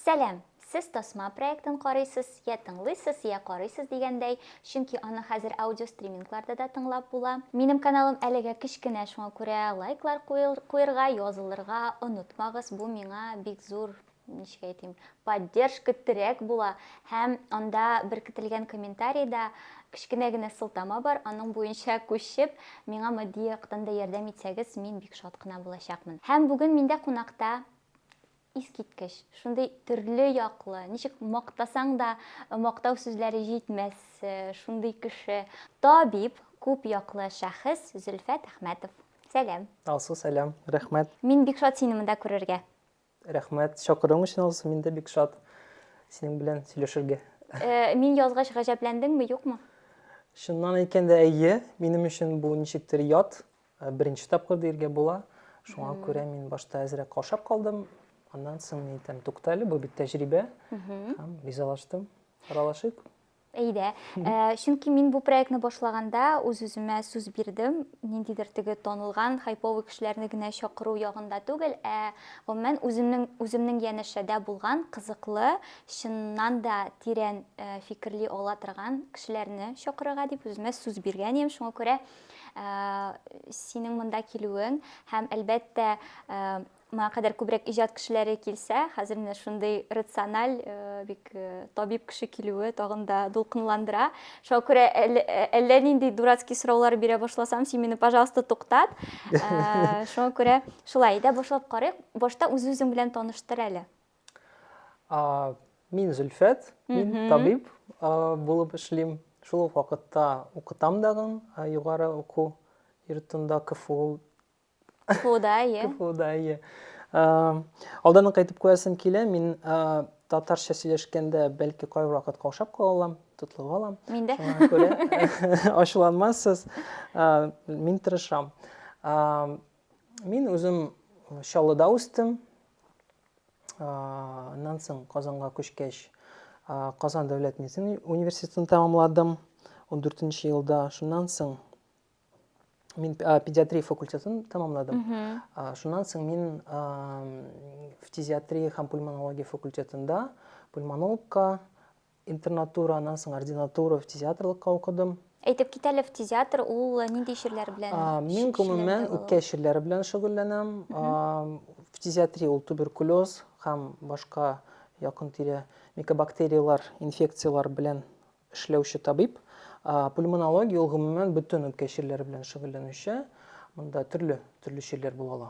Сәлам! Сез Тасма проектын карыйсыз, йә тыңлыйсыз, йә карыйсыз дигәндәй, чөнки аны хәзер аудиостримингларда да тыңлап була. Минем каналым әлегә кечкенә, шуңа күрә лайклар куерга, язылырга онытмагыз, бу миңа бик зур, ничек әйтим, поддержка, терәк була. Һәм анда беркетелгән комментарийда кечкенә генә сылтама бар, аның буенча күчеп, миңа матди яктан да ярдәм итсәгез, мин бик шат кына булачакмын. Һәм бүген миндә кунакта. Искиткеч! Шундый төрле яклы, ничек мактасаң да, мактау сүзләре җитмәс шундый кеше, табиб, күп яклы шәхес Зөлфәт Әхмәтов. Сәлам! Алсу, сәлам! Рәхмәт! Мин бик шат сине монда күрергә! Рәхмәт! Чакыруың өчен, Алсу, мин дә бик шат синең белән сөйләшергә. Мин язгач гаҗәпләндеңме, юкмы? Чыннан әйткәндә, әйе. Минем өчен бу ничектер ят. Беренче тапкыр диергә була. Шуңа күрә мин башта әзрәк каушап калдым. Аннан соң мин әйтәм, туктале, бу бит тәҗрибә. Һәм ризалаштым. Аралашыйк. Әйдә. Ә, чөнки мин бу проектны башлаганда үз-үземә сүз бирдем, ниндидер теге танылган хайповый кешеләрне генә чакыру ягында түгел, ә гомумән үземнең үземнең янәшәдә булган кызыклы, чыннан да тирән фикерли ала торган кешеләрне чакырырга дип үземә сүз биргән идем. Шуңа күрә синең монда килүең һәм әлбәттә моңа кадәр күбрәк иҗат кешеләре килсә, хәзер менә шундый рациональ, э, бик э, табиб кеше килүе тагын да дулкынландыра. Шуңа күрә әллә, э, әллә нинди дурацкий сораулар бирә башласам, син мине, пожалуйста, туктат. Шуңа күрә шулай, әйдә башлап карыйк. Башта үз-үзең белән таныштыр әле. Мин Зөлфәт, мин табиб булып эшлим. Шул ук вакытта укытам дагын югары уку йортында КФУ. КФУда, ие. КФУда, ие. Алдан кайтып куясым килә, мин татарча сөйләшкәндә бәлки кай вакыт каушап кала алам, тотлыгып алам. Мин дә. Шуңа күрә ачуланмассыз. Мин тырышам. Мин үзем Чаллыда үстем. Аннан соң Казанга күчкәч, Казан дәүләт медицина университетын тәмамладым 14 нче елда. Шуннан соң мин педиатрия факультетын тәмамладым. Шуннан соң мин фтизиатрия һәм пульмонология факультетында пульмонологка Интернатура, аннан соң ординатура, фтизиатрлыкка укыдым. Әйтеп китәле, фтизиатр ул э, нинди чирләр белән? Мин гомумән үпкә чирләре белән шөгыльләнәм. Фтизиатрия ул туберкулез һәм башка якын тирә микобактериялар, инфекциялар белән эшләүче табиб. Пульмонология ул гомумән бөтен үпкә чирләре белән шөгыльләнүче. Монда төрле төрле чирләр була ала.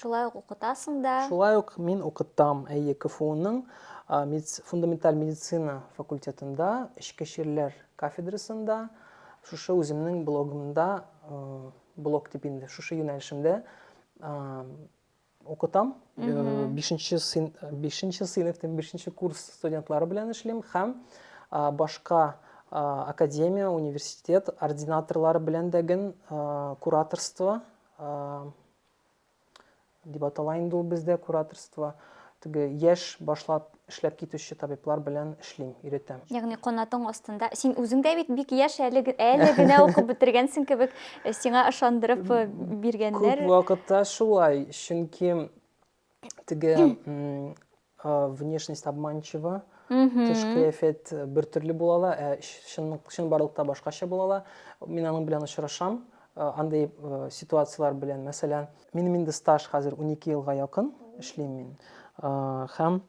Шулай ук укытасың да. Шулай ук мин укытам, әйе, КФУның фундаменталь медицина факультетында, эчке чирләр кафедрасында, шушы үземнең блогымда, блог дип инде, шушы юнәлешемдә укытам. Бишенче сыйныфтан бишенче курс студентлары белән эшлим һәм башка академия, университет ординаторлары белән дә гел кураторство дип атала инде ул бездә кураторство, теге яшь башлап эшләп китүче табиблар белән эшлим, өйрәтәм. Ягъни канатың астында, син үзең дә бит бик яшь әле, әле генә укып бетергәнсең кебек, сиңа ышандырып биргәннәр. Күп вакытта шулай, чөнки теге внешность обманчива тыш кыяфәт э, бер төрле була ала ә чын чынбарлыкта башкача була ала мин аның белән очрашам э, андай э, ситуацияләр белән мәсәлән минем инде стаж хәзер 12 елга якын эшлим мин һәм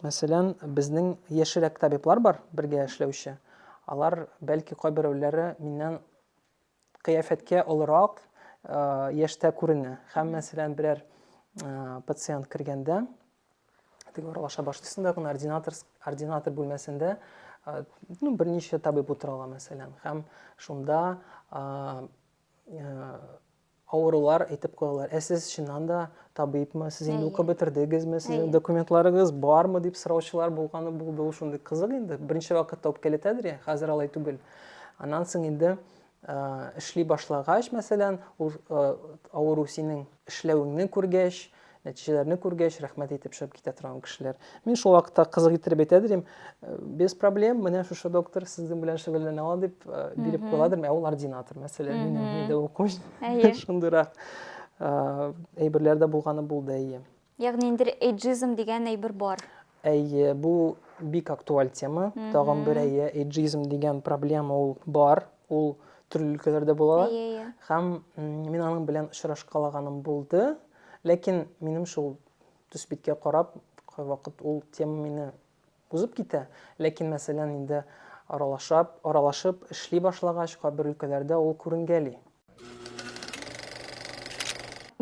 мәсәлән безнең яшьрәк табиблар бар бергә эшләүче алар бәлки кайберәүләре миннән кыяфәткә олырак яшьтә күренә. Һәммәсе белән берәр пациент кергәндә, теге аралаша башлыйсың да, ординатор, ординатор бүлмәсендә ну, берничә табиб утыра ала, мәсәлән, һәм шунда авырулар әйтеп куялар. Ә сез чыннан да табибмы? Сез инде укып бетердегезме? Сезнең документларыгыз бармы дип сораучылар булганы булды. Ул шундый кызык инде. Беренче вакытта үпкәләтәдер я, хәзер алай түгел. Аннан соң инде эшли башлагач, мәсәлән, ул авыру синең эшләвеңне күргәч, нәтиҗәләрне күргәч, рәхмәт әйтеп чыгып китә торган кешеләр. Мин шул вакытта кызык иттереп әйтә дим, без проблем, менә шушы доктор сезнең белән шөгыльләнә ала дип биреп куя дидем, ә ул ординатор, мәсәлән, минем дә укучым. Шундыйрак әйберләр дә булганы булды, әйе. Ягъни инде эйджизм дигән әйбер бар. Әйе, бу бик актуаль тема. Тагын бер әйе, эйджизм дигән проблема ул бар. Ул төрле өлкәләрдә була. Һәм мин аның белән очрашкалаганым булды. Ләкин минем шул төс биткә карап, кайвакыт ул тема мине Узып китә. Ләкин, мәсәлән, инде аралашап, аралашып эшли башлагач, кабер өлкәләрдә ул күренгәли.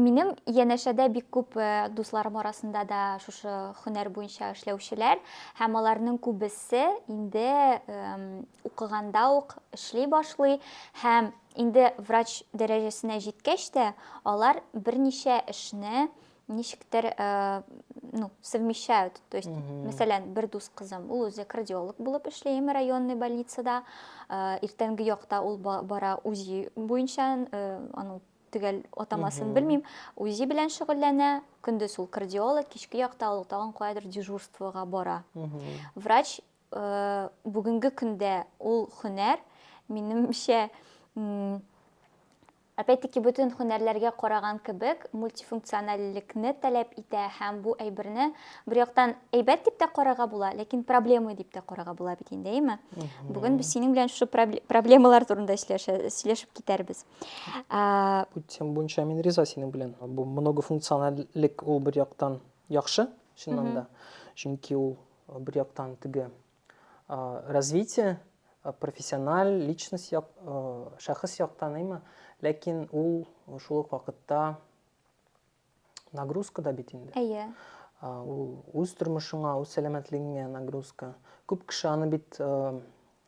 Минем янәшәдә бик күп дусларым арасында да шушы хөнәр буенча эшләүчеләр, һәм аларның күбесе инде укыганда ук эшли башлый, һәм инде врач дәрәҗәсенә җиткәч тә, алар берничә эшне ничектер э, ну, совмещают. То есть, мәсәлән, бер дус кызым, ул үзе кардиолог булып эшли М районный больницада. Э, иртәнге якта ул бара УЗИ буенча, э, аның төгәл атамасын белмим, УЗИ белән шөгыльләнә, көндез ул кардиолог, кичке якта ул тагын каядыр дежурствога бара. Врач бүгенге көндә ул хөнәр, минемчә, Опять-таки бөтен һөнәрләргә караган кебек, мультифункциональлекне таләп итә һәм бу әйберне бер яктан әйбәт дип тә карарга була, ләкин проблема дип тә карарга була бит инде, әйме? Бүген без синең белән шушы проблемалар турында сөйләшеп китәрбез. Бу тема буенча мин риза синең белән. Бу многофункциональлек ул бер яктан яхшы, чыннан да. Чөнки ул бер яктан теге Э, развитие э, профессиональ личность як, э, шәхес яктан әйме ләкин ул шул ук вакытта нагрузка да бит инде әйе ул үз тормышыңа үз сәламәтлегеңә нагрузка күп кеше аны бит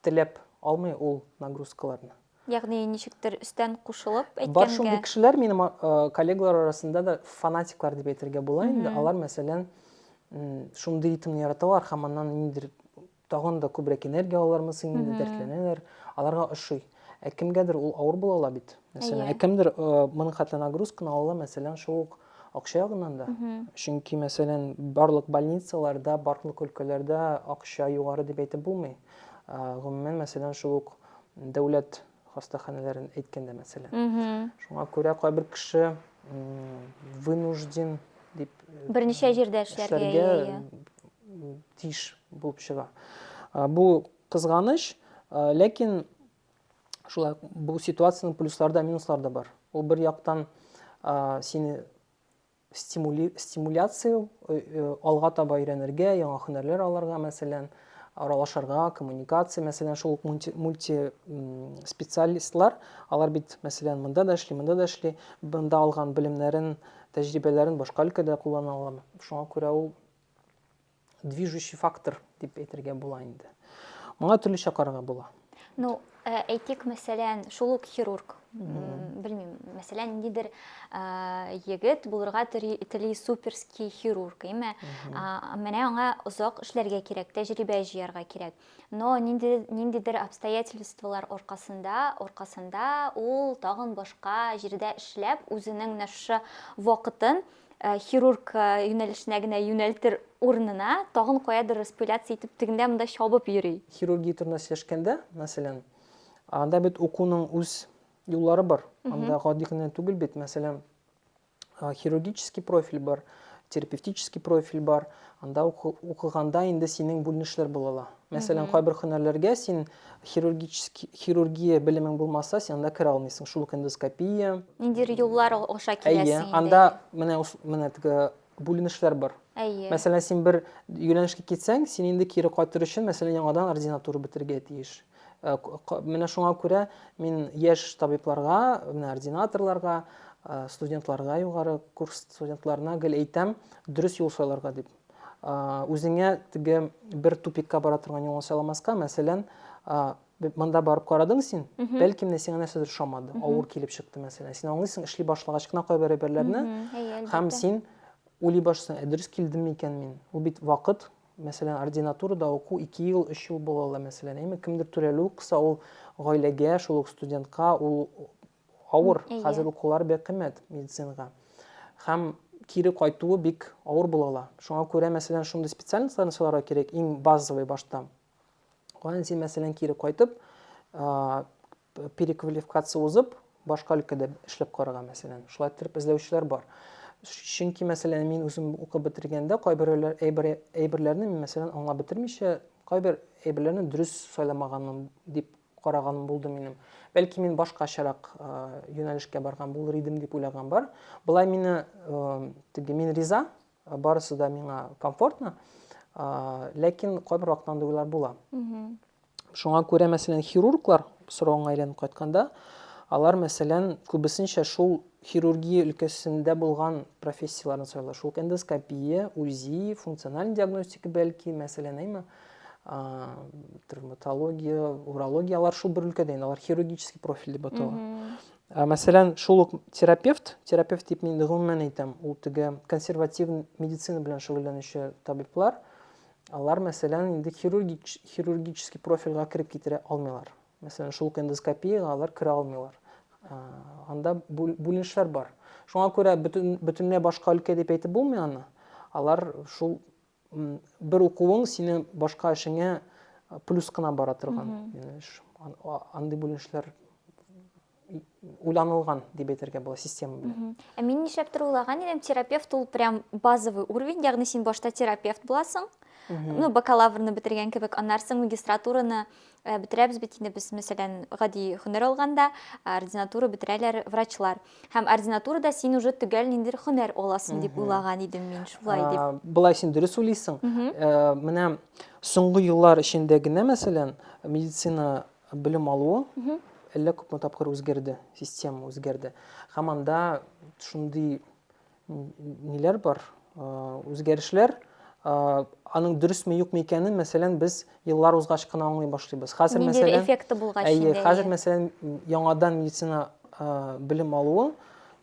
теләп алмый ул нагрузкаларны Ягъни ничектер өстән кушылып әйткәнгә. Бар шундый кешеләр минем коллегалар арасында да фанатиклар дип әйтергә була инде. Алар, мәсәлән, шундый ритмны яраталар һәм аннан ниндидер тагын да күбрәк энергия алалармы соң инде, дәртләнәләр. Аларга ошый. Ә кемгәдер ул авыр була ала бит. Мәсәлән, ә кемдер моның хәтле нагрузканы ала ала, мәсәлән, шул ук акча ягыннан да. Чөнки, мәсәлән, барлык больницаларда, барлык өлкәләрдә акча югары дип әйтеп булмый. Гомумән, мәсәлән, шул ук дәүләт хастаханәләрен әйткәндә мәсәлән. Шуңа күрә кайбер кеше вынужден дип э, берничә җирдә эшләргә тиеш булып чыга. Бу кызганыч, ләкин шулай бу ситуациянең плюслары да, минуслары да бар. Ул бер яктан сине стимули, стимуляция, э, э, алга таба өйрәнергә, яңа һөнәрләр алырга, мәсәлән, аралашырга, коммуникация, мәсәлән, шул ук мульти, мульти специалистлар, алар бит, мәсәлән, монда да эшли, монда да эшли, монда алган белемнәрен, тәҗрибәләрен башка өлкәдә куллана ала. Шуңа күрә ул движущий фактор дип әйтергә була инде. Моңа төрлечә карарга була. Ну, э, әйтик, мәсәлән, шул ук хирург, белмим, мәсәлән, ниндидер э, егет булырга тели суперский хирург, әйме? Менә аңа озак эшләргә кирәк, тәҗрибә җыярга кирәк. Но ниндидер обстоятельстволар аркасында, аркасында ул тагын башка җирдә эшләп, үзенең менә шушы вакытын Э, хирург э, юнәлешенә генә юнәлтер урынына тагын каядыр распыляться итеп тегендә монда чабып йөри хирургия турында сөйләшкәндә мәсәлән анда бит укуның үз юллары бар анда гади генә түгел бит мәсәлән хирургический профиль бар терапевтический профиль бар анда укыганда инде синең бүленешләр була ала Мәсәлән, кайбер һөнәрләргә син хирургический хирургия белемең булмаса, син анда керә алмыйсың. Шул ук эндоскопия. Ниндидер юллар аша киләсең инде. Әйе, анда менә менә теге бүленешләр бар. Әйе. Мәсәлән, син бер юнәлешкә китсәң, син инде кире кайтыр өчен, мәсәлән, яңадан ординатура бетергә тиеш. Э, менә шуңа күрә мин яшь табибларга, менә ординаторларга, э, студентларга, югары курс студентларына гел әйтәм, дөрес юл сайларга дип. Үзеңә теге бер тупикка бара торган юлны сайламаска, мәсәлән, монда барып карадың син, бәлки менә сиңа нәрсәдер ошамады, авыр килеп чыкты, мәсәлән. Син аңлыйсың, эшли башлагач кына кайбер әйберләрне, һәм син уйлый башлыйсың, ә дөрес килдем микән мин? Ул бит вакыт, мәсәлән, ординатурада уку 2 ел, 3 ел була ала, мәсәлән, әйме, кемдер түләлү кыса, ул гаиләгә, шул ук студентка, ул Авыр, хәзер укулары бик кыйммәт медицинага. Һәм кире кайтуы бик авыр була ала. Шуңа күрә, мәсәлән, шундый специальностьларны сайларга кирәк, иң базовый башта. Аннан син, мәсәлән, кире кайтып, переквалификация узып, башка өлкәдә эшләп карарга, мәсәлән. Шулай итеп эзләүчеләр бар. Чөнки, мәсәлән, мин үзем укып бетергәндә кайбер әйберләрне, мәсәлән, аңлап бетермичә, кайбер әйберләрне дөрес сайламаганым дип караган булды минем. Бәлки мин башкачарак юнәлешкә барган булыр идем дип уйлаган бар. Болай мине теге мин риза, барысы да миңа комфортно. Ләкин кайбер вакытта андый уйлар була. Шуңа күрә, мәсәлән, хирурглар соравыңа әйләнеп кайтканда, алар, мәсәлән, күбесенчә шул хирургия өлкәсендә булган профессияләрне сайлый. Шул эндоскопия, УЗИ, функциональ диагностика бәлки, мәсәлән, әйме. травматология, урология, алар шул бер өлкәдә, алар хирургический профиль дип атала. Мәсәлән, шул ук терапевт, терапевт дип мин гомумән әйтәм, ул теге консерватив медицина белән шөгыльләнүче табиблар, алар, мәсәлән, инде хирургик, хирургический профильгә кереп китерә алмыйлар. Мәсәлән, шул ук эндоскопиягә алар керә алмыйлар. Анда бүленешләр бар. Шуңа күрә бөтен, бөтенләй башка өлкә дип әйтеп булмый аны. Алар шул бер укуың сине башка эшеңә плюс кына бара торган андый бүленешләр уйланылган дип әйтергә була система белән ә мин нишләптер уйлаган идем терапевт ул прям базовый уровень ягъни син башта терапевт буласың ну бакалаврны бетергән кебек аннары соң магистратураны Ә бетерәбез бит инде без, мәсәлән, гади һөнәр алганда, ординатура бетерәләр врачлар. Һәм ординатурада син уже төгәл ниндидер һөнәр аласың дип уйлаган идем мин, шулай дип. Ә, Болай син дөрес уйлыйсың. Ә, Менә соңгы еллар эчендә генә, мәсәлән, медицина белем алуы әллә күпме тапкыр үзгәрде, система үзгәрде. Һәм анда шундый ниләр бар, үзгәрешләр, аның дөресме юкмы икәнен, мәсәлән, без еллар узгач кына аңлый башлыйбыз. Хәзер мәсәлән, эффекты булгач әйе, хәзер мәсәлән, яңадан медицина белем алуы,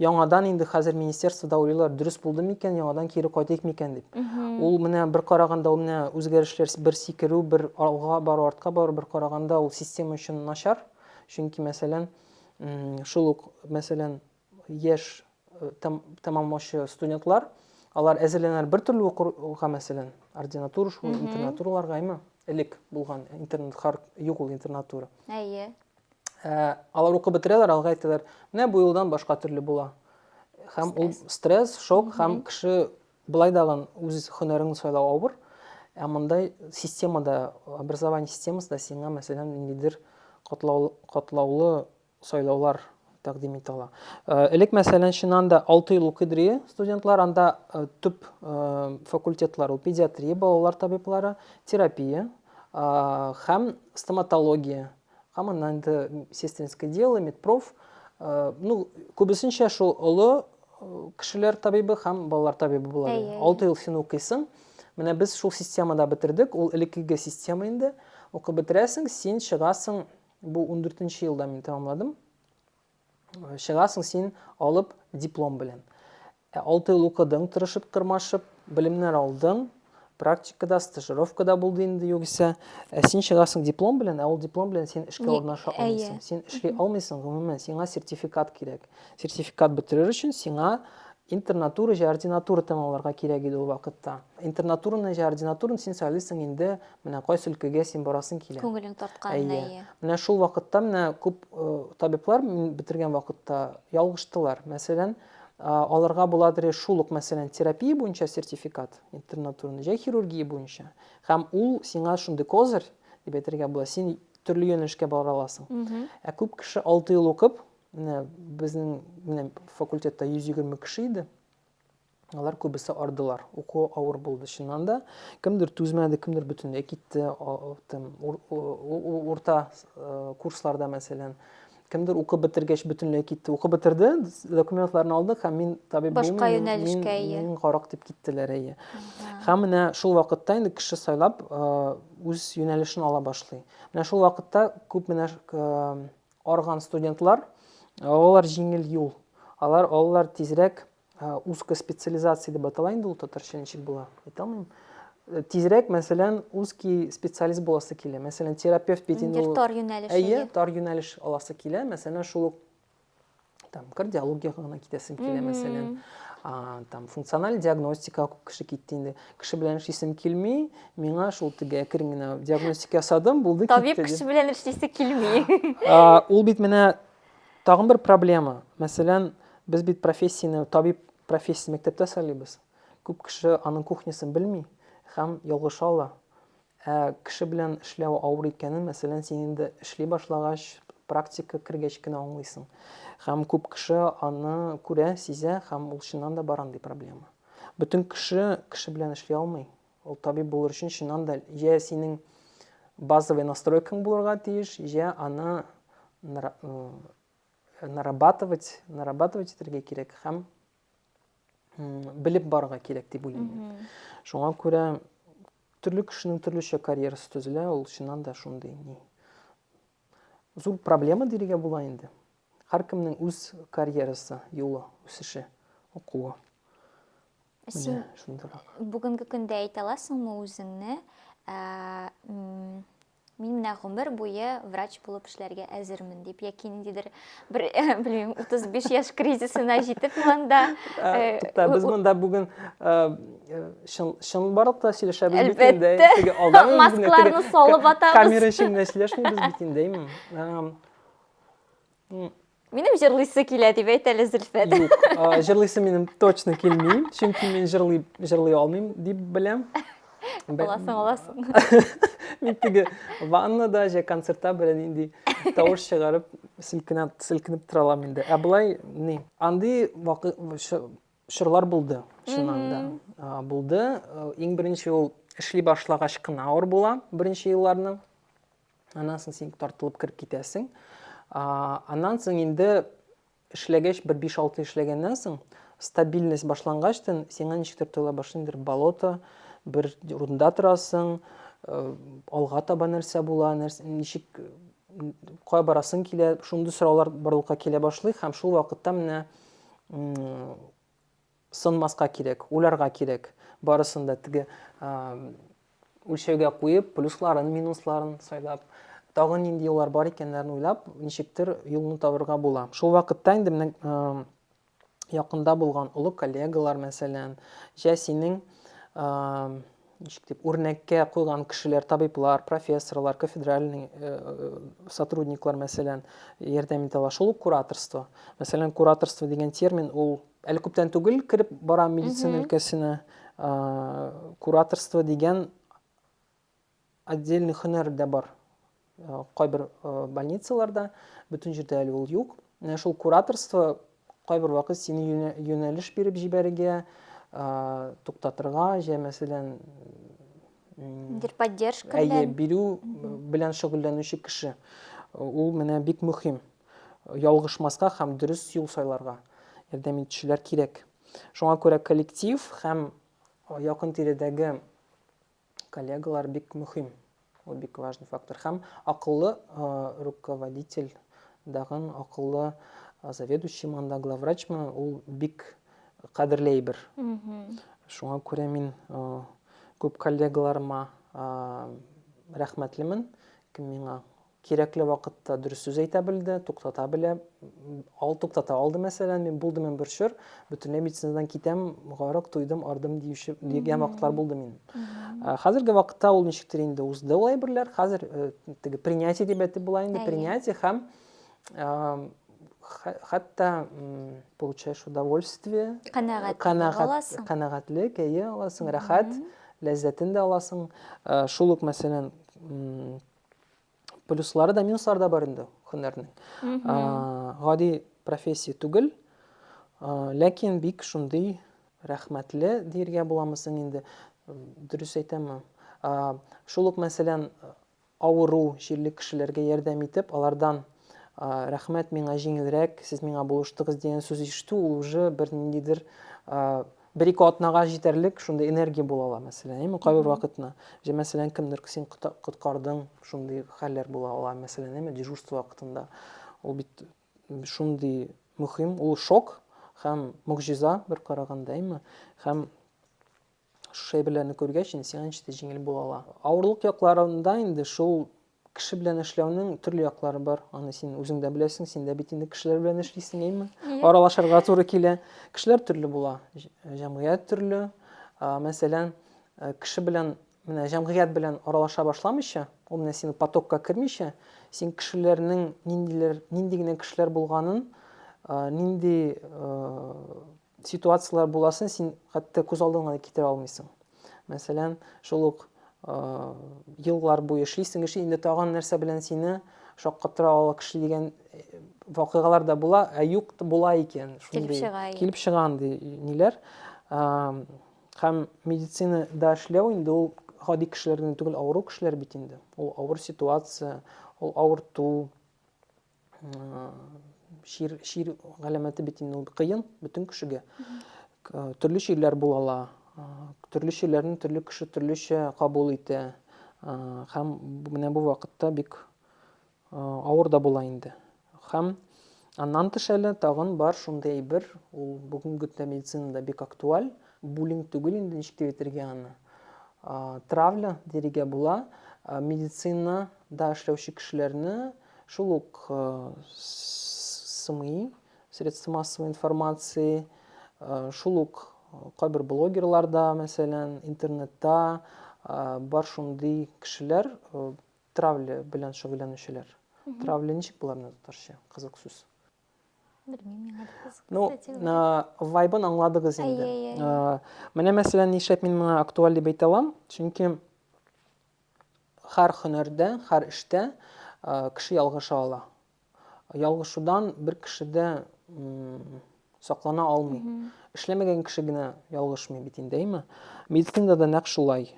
яңадан инде хәзер министерствода уйлыйлар, дөрес булды микән, яңадан кире кайтыйк микән дип. Ул менә бер караганда ул менә үзгәрешләр бер сикерү, бер алга бару, артка бару, бер караганда ул система өчен начар. Чөнки мәсәлән, шул ук мәсәлән, яшь тәмамлаучы студентлар, алар әзерләнәләр бер төрле укырга, мәсәлән, ординатура шул, интернатураларга, әйме? Элек булган интернат, хар юк ул интернатура. Әйе. Ә, алар укып бетерәләр, алга әйтәләр, менә бу елдан башка төрле була. Һәм ул стресс, шок, һәм кеше былай дагын үз һөнәрен сайлау авыр. Ә мондай системада, образование системасында сиңа, мәсәлән, ниндидер катлаулы сайлаулар тәкъдим итә ала. Элек, мәсәлән, чыннан да алты ел укыдыры студентлар, анда төп факультетлар ул педиатрия, балалар табиблары, терапия һәм стоматология, һәм аннан инде сестринское дело, медпроф, ну, күбесенчә шул олы кешеләр табибы һәм балалар табибы була. Алты ел син укыйсың. Менә без шул системада бетердек, ул элеккеге система инде. Укып бетерәсең, син чыгасың Бу ундүртенче елда мин тәмамладым. Чыгасың син алып диплом белән. Ә алты ел укыдың, тырышып, тырмашып, белемнәр алдың, практикада, стажировкада булды инде югыйсә. Ә син чыгасың диплом белән, ә ул диплом белән син эшкә урнаша алмыйсың. Син эшли алмыйсың, гомумән, сиңа сертификат кирәк. Сертификат бетерер өчен сиңа интернатура җә ординатура тәмамларга кирәк иде ул вакытта. Интернатураны җә ординатураны син сайлыйсың инде, менә кайсы өлкәгә син барасың килә. Күңелең тартканына, әйе. Менә шул вакытта менә күп э, табиблар мин бетергән вакытта ялгыштылар. Мәсәлән, аларга буладыр шул ук, мәсәлән, терапия буенча сертификат, интернатураны җә хирургия буенча. Һәм ул сиңа шундый козырь, дип әйтергә була, син төрле юнәлешкә бара аласың. Ә күп кеше 6 ел укып, Менә безнең менә факультетта 120 кеше иде. Алар күбесе ардылар. Уку авыр булды чыннан да. Кемдер түзмәде, кемдер бөтенләй китте. Тем урта э, курсларда мәсәлән кемдер укып бетергәч бөтенләй китте укып бетерде документларын алды һәм мин табиб башка юнәлешкә ия мин карак дип киттеләр әйе һәм менә шул вакытта инде кеше сайлап э, үз юнәлешен ала башлый менә шул вакытта күп менә э, Арган студентлар, алар җиңел юл. Алар алар тизрәк узкая специализация дип атала инде ул татарча ничек була, әйтә алмыйм. Э, тизрәк, мәсәлән, узкий специалист буласы килә. Мәсәлән, терапевт бит инде ул. Тар юнәлеш. Әйе, тар юнәлеш аласы килә. Мәсәлән, шул ук там кардиологияга гына китәсем килә мәсәлән а, там функциональ диагностика күп кеше китте инде кеше белән эшлисем килми миңа шул теге әкрен генә диагностика ясадым булды табиб китте, кеше белән эшлисе килми а, ул бит менә тагын бер проблема мәсәлән без бит профессияне табиб профессиясын мәктәптә сайлыйбыз күп кеше аның кухнясын белми һәм ялгыша ала Ә кеше белән эшләү авыр икәнен, мәсәлән, син инде эшли башлагач, практика кергәч кенә аңлыйсың. Һәм күп кеше аны күрә, сизә һәм ул чыннан да бар андый проблема. Бөтен кеше кеше белән эшли алмый. Ул табиб булыр өчен чыннан да җә синең базовый настройкаң булырга тиеш, җә аны нарабатывать, нарабатывать итәргә кирәк һәм белеп барырга кирәк дип уйлыйм мин шуңа күрә төрле кешенең төрлечә карьерасы төзелә ул чыннан да шундый ни зур проблема дияргә була инде һәркемнең үз карьерасы юлы үсеше укуы син шундыйрак бүгенге көндә әйтә аласыңмы үзеңне ә, Мин менә гомер буе врач булып эшләргә әзермен дип, яки ниндидер бер, белмим, 35 яшь кризисына җитеп монда. Э, Тукта, без монда бүген э, э, чын барлык та сөйләшәбез бит инде. Әлбәттә. Маскларны салып атабыз. Камера эчендә сөйләшмибез бит инде. Минем җырлыйсы килә дип әйт әле, Зөлфәт. Юк, а, җырлыйсы минем точно килми, чөнки мин җырлый, җырлый алмыйм дип беләм. Бе- Аласың, аласың. Мин теге ваннада, җә концертта белән нинди тавыш чыгарып, селкенә, селкенеп тора алам инде. Ә болай, ни, андый вакы, ш- чорлар булды, чыннан да. А, Булды. Э, Иң беренче ул эшли башлагач кына авыр була, беренче елларны. Аннан соң син тартылып кереп китәсең. Аннан соң инде эшләгәч, бер 5-6 эшләгәннән соң, стабильность башлангач, сиңа ничектер тоела башлый, бер болото, бер урында торасың, э, алга таба нәрсә була, нәрсә, ничек кая барасың килә, шундый сораулар барлыкка килә башлый һәм шул вакытта менә Сынмаска кирәк, уйларга кирәк. Барысын да теге үлчәүгә куеп, плюсларын, минусларын сайлап, тагын нинди юллар бар икәннәрен уйлап, ничектер юлны табырга була. Шул вакытта инде менә якында булган олы коллегалар, мәсәлән, җә синең ничек дип, үрнәккә куйган кешеләр, табиблар, профессорлар, кафедральный э, э, сотрудниклар, мәсәлән, ярдәм итә ала. Шул ук кураторство. Мәсәлән, кураторство дигән термин ул әле күптән түгел кереп бара медицина өлкәсенә. Кураторство дигән отдельный һөнәр дә бар. Э, кайбер э, больницаларда бөтен җирдә әле ул юк менә шул кураторство кайбер вакыт сине юнәлеш биреп җибәрергә э, туктатырга җә мәсәлән бер поддержка белән әйе бирү белән шөгыльләнүче кеше ул менә бик мөһим ялгышмаска һәм дөрес юл сайларга ярдәм итүчеләр кирәк шуңа күрә коллектив һәм якын тирәдәге Коллегалар бик мөһим. Ул бик важный фактор. Һәм акыллы руководитель дагын акыллы заведующий манда главврачмы ул бик кадерле әйбер. Шуңа күрә мин күп коллегаларыма рәхмәтлемен, кем миңа Кирәкле вакытта дөрес сүз әйтә белде, туктата белә. Ал туктата алды, мәсәлән, мин булды мен бер чор, бөтенләй медицинадан китәм, гарык туйдым, ардым диюче дигән вакытлар булды мин. Хәзерге вакытта ул ничектер инде узды ул әйберләр. Хәзер э, теге принятие дип әйтеп була инде, принятие һәм хәтта получаешь удовольствие, канәгать, канәгать, канәгатьлек, әйе, аласың, рәхәт, ләззәтен дә аласың. Э, шул ук мәсәлән, плюслары да минуслары да бар инде һөнәрнең гади профессия түгел ләкин бик шундый рәхмәтле диергә буламы соң инде дөрес әйтәме шул ук мәсәлән авыру җирле кешеләргә ярдәм итеп алардан рәхмәт миңа җиңелрәк сез миңа булыштыгыз дигән сүз ишетү ул уже бер ниндидер Бер-ике атнага җитәрлек шундый энергия була ала, мәсәлән, әйеме, кайбер вакытны. Җә, мәсәлән, кемдер син коткардың, шундый хәлләр була ала, мәсәлән, әйеме, дежурство вакытында. Ул бит шундый мөһим, ул шок һәм могҗиза бер караганда, әйеме? Һәм шушы әйберләрне күргәч, инде сиңа ничектер җиңел була ала. Авырлык якларында инде шул Кеше белән эшләүнең төрле яклары бар. Аны син үзең дә беләсең, син дә бит инде кешеләр белән эшлисең, әйме? Аралашырга туры килә. Кешеләр төрле була, җәмгыять төрле. Мәсәлән, э, кеше белән менә җәмгыять белән аралаша башламыйча, ул менә синең потокка кермичә, син кешеләрнең ниндилер, нинди генә кешеләр булганын, э, нинди э, ситуацияләр буласын син хәтта күз алдыңа да китерә алмыйсың. Мәсәлән, шул ук еллар буе эшлисең, эшли, инде тагын нәрсә белән сине шаккатыра ала кеше дигән вакыйгалар да була, ә юк була икән. Килеп чыга. Килеп чыга андый ниләр. Һәм медицина да эшләү инде ул гади кешеләрдән түгел, авыру кешеләр бит инде. Ул авыр ситуация, ул авырту, чир чир галәмәте бит инде ул кыен бөтен кешегә төрле чирләр була ала төрле чирләрне төрле кеше төрлечә кабул итә һәм менә бу вакытта бик авыр да була инде һәм аннан тыш әле тагын бар шундый әйбер ул бүгенге көндә медицинада бик актуаль буллинг түгел инде ничек дип әйтергә аны травля дирегә була медицинада эшләүче кешеләрне Шул ук СМИ, средства массовой информации, шул ук кайбер блогерлар да, мәсәлән, интернетта бар шундый кешеләр, травля белән шөгыльләнүчеләр. Травля ничек була менә татарча? Кызык сүз. Белмим, Ну, вайбын аңладыгыз инде. Менә мәсәлән, нишләп мин моны актуаль дип әйтә алам? Чөнки Хәр хөнәрдә, хәр эштә кеше ялгыша ала. Ялгышудан бер кеше дә саклана алмый. Эшләмәгән кеше генә ялгышмый бит инде, әйме? Медицинада да нәкъ шулай.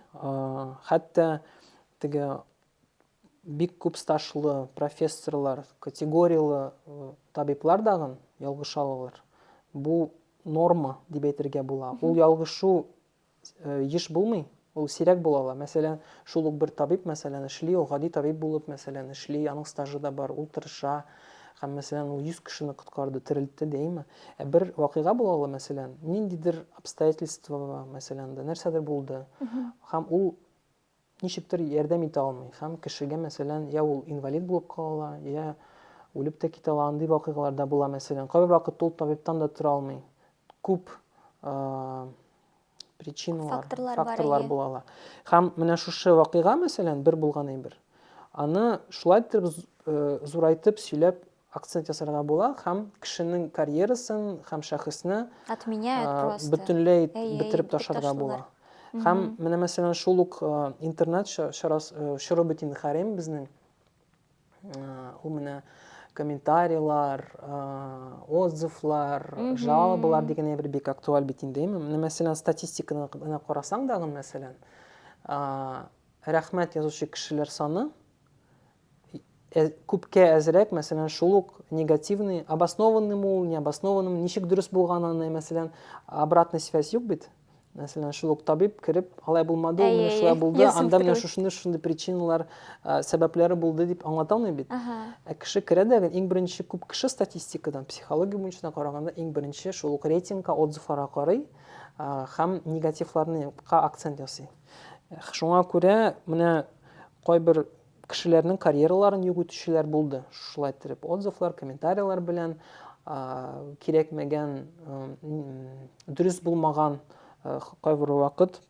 Хәтта теге бик күп стажлы профессорлар, категорияле э, табиблар дагын ялгыша алалар. Бу норма дип әйтергә була. Ул ялгышу Еш булмый, ул сирәк була ала. Мәсәлән, шул ук бер табиб, мәсәлән, эшли, ул гади табиб булып, мәсәлән, эшли, аның стажы да бар, ул тырыша, һәм, мәсәлән, ул 100 кешене коткарды, терелтте, дәйме. Ә бер вакыйга була ала, мәсәлән, ниндидер обстоятельство, мәсәлән, дә нәрсәдер булды, һәм ул ничектер ярдәм итә алмый һәм кешегә, мәсәлән, я ул инвалид булып кала ала, я үлеп тә китә ала, андый вакыйгалар да була, мәсәлән. Кайбер вакытта ул табибтан да тора алмый. Күп причиналар, факторлар, факторлар була ала. Һәм менә шушы вакыйга, мәсәлән, бер булган әйбер. Аны шулай итеп зурайтып сөйләп акцент ясарга була һәм кешенең карьерасын һәм шәхесне отменяют просто бөтенләй бетереп ташларга була һәм менә мәсәлән шул ук интернет чоры бөтен хәрем безнең ул менә комментарийлар отзывлар жалобалар дигән әйбер бик актуаль бит инде менә мәсәлән статистиканы гына карасаң дагы мәсәлән рәхмәт язучы кешеләр саны Ә, күпкә әзрәк, мәсәлән, шул ук негативный, обоснованный мул, необоснованный, ничек дөрес булганын, мәсәлән, обратный связь юк бит. Мәсәлән, шул ук табиб кереп, алай булмады, ул менә шулай булды, анда менә шушындый шушындый причиналар, сәбәпләре булды дип аңлата алмый бит. Ә кеше керә дә, иң беренче күп кеше статистикадан, психология буенча караганда, иң беренче шул ук рейтингка, отзывларга карый һәм негативларны акцент ясый. Шуңа күрә менә кайбер кешеләрнең карьераларын юк итүчеләр булды. Шулай итеп, отзывлар, комментарийлар белән кирәкмәгән, дөрес булмаган кайбер вакыт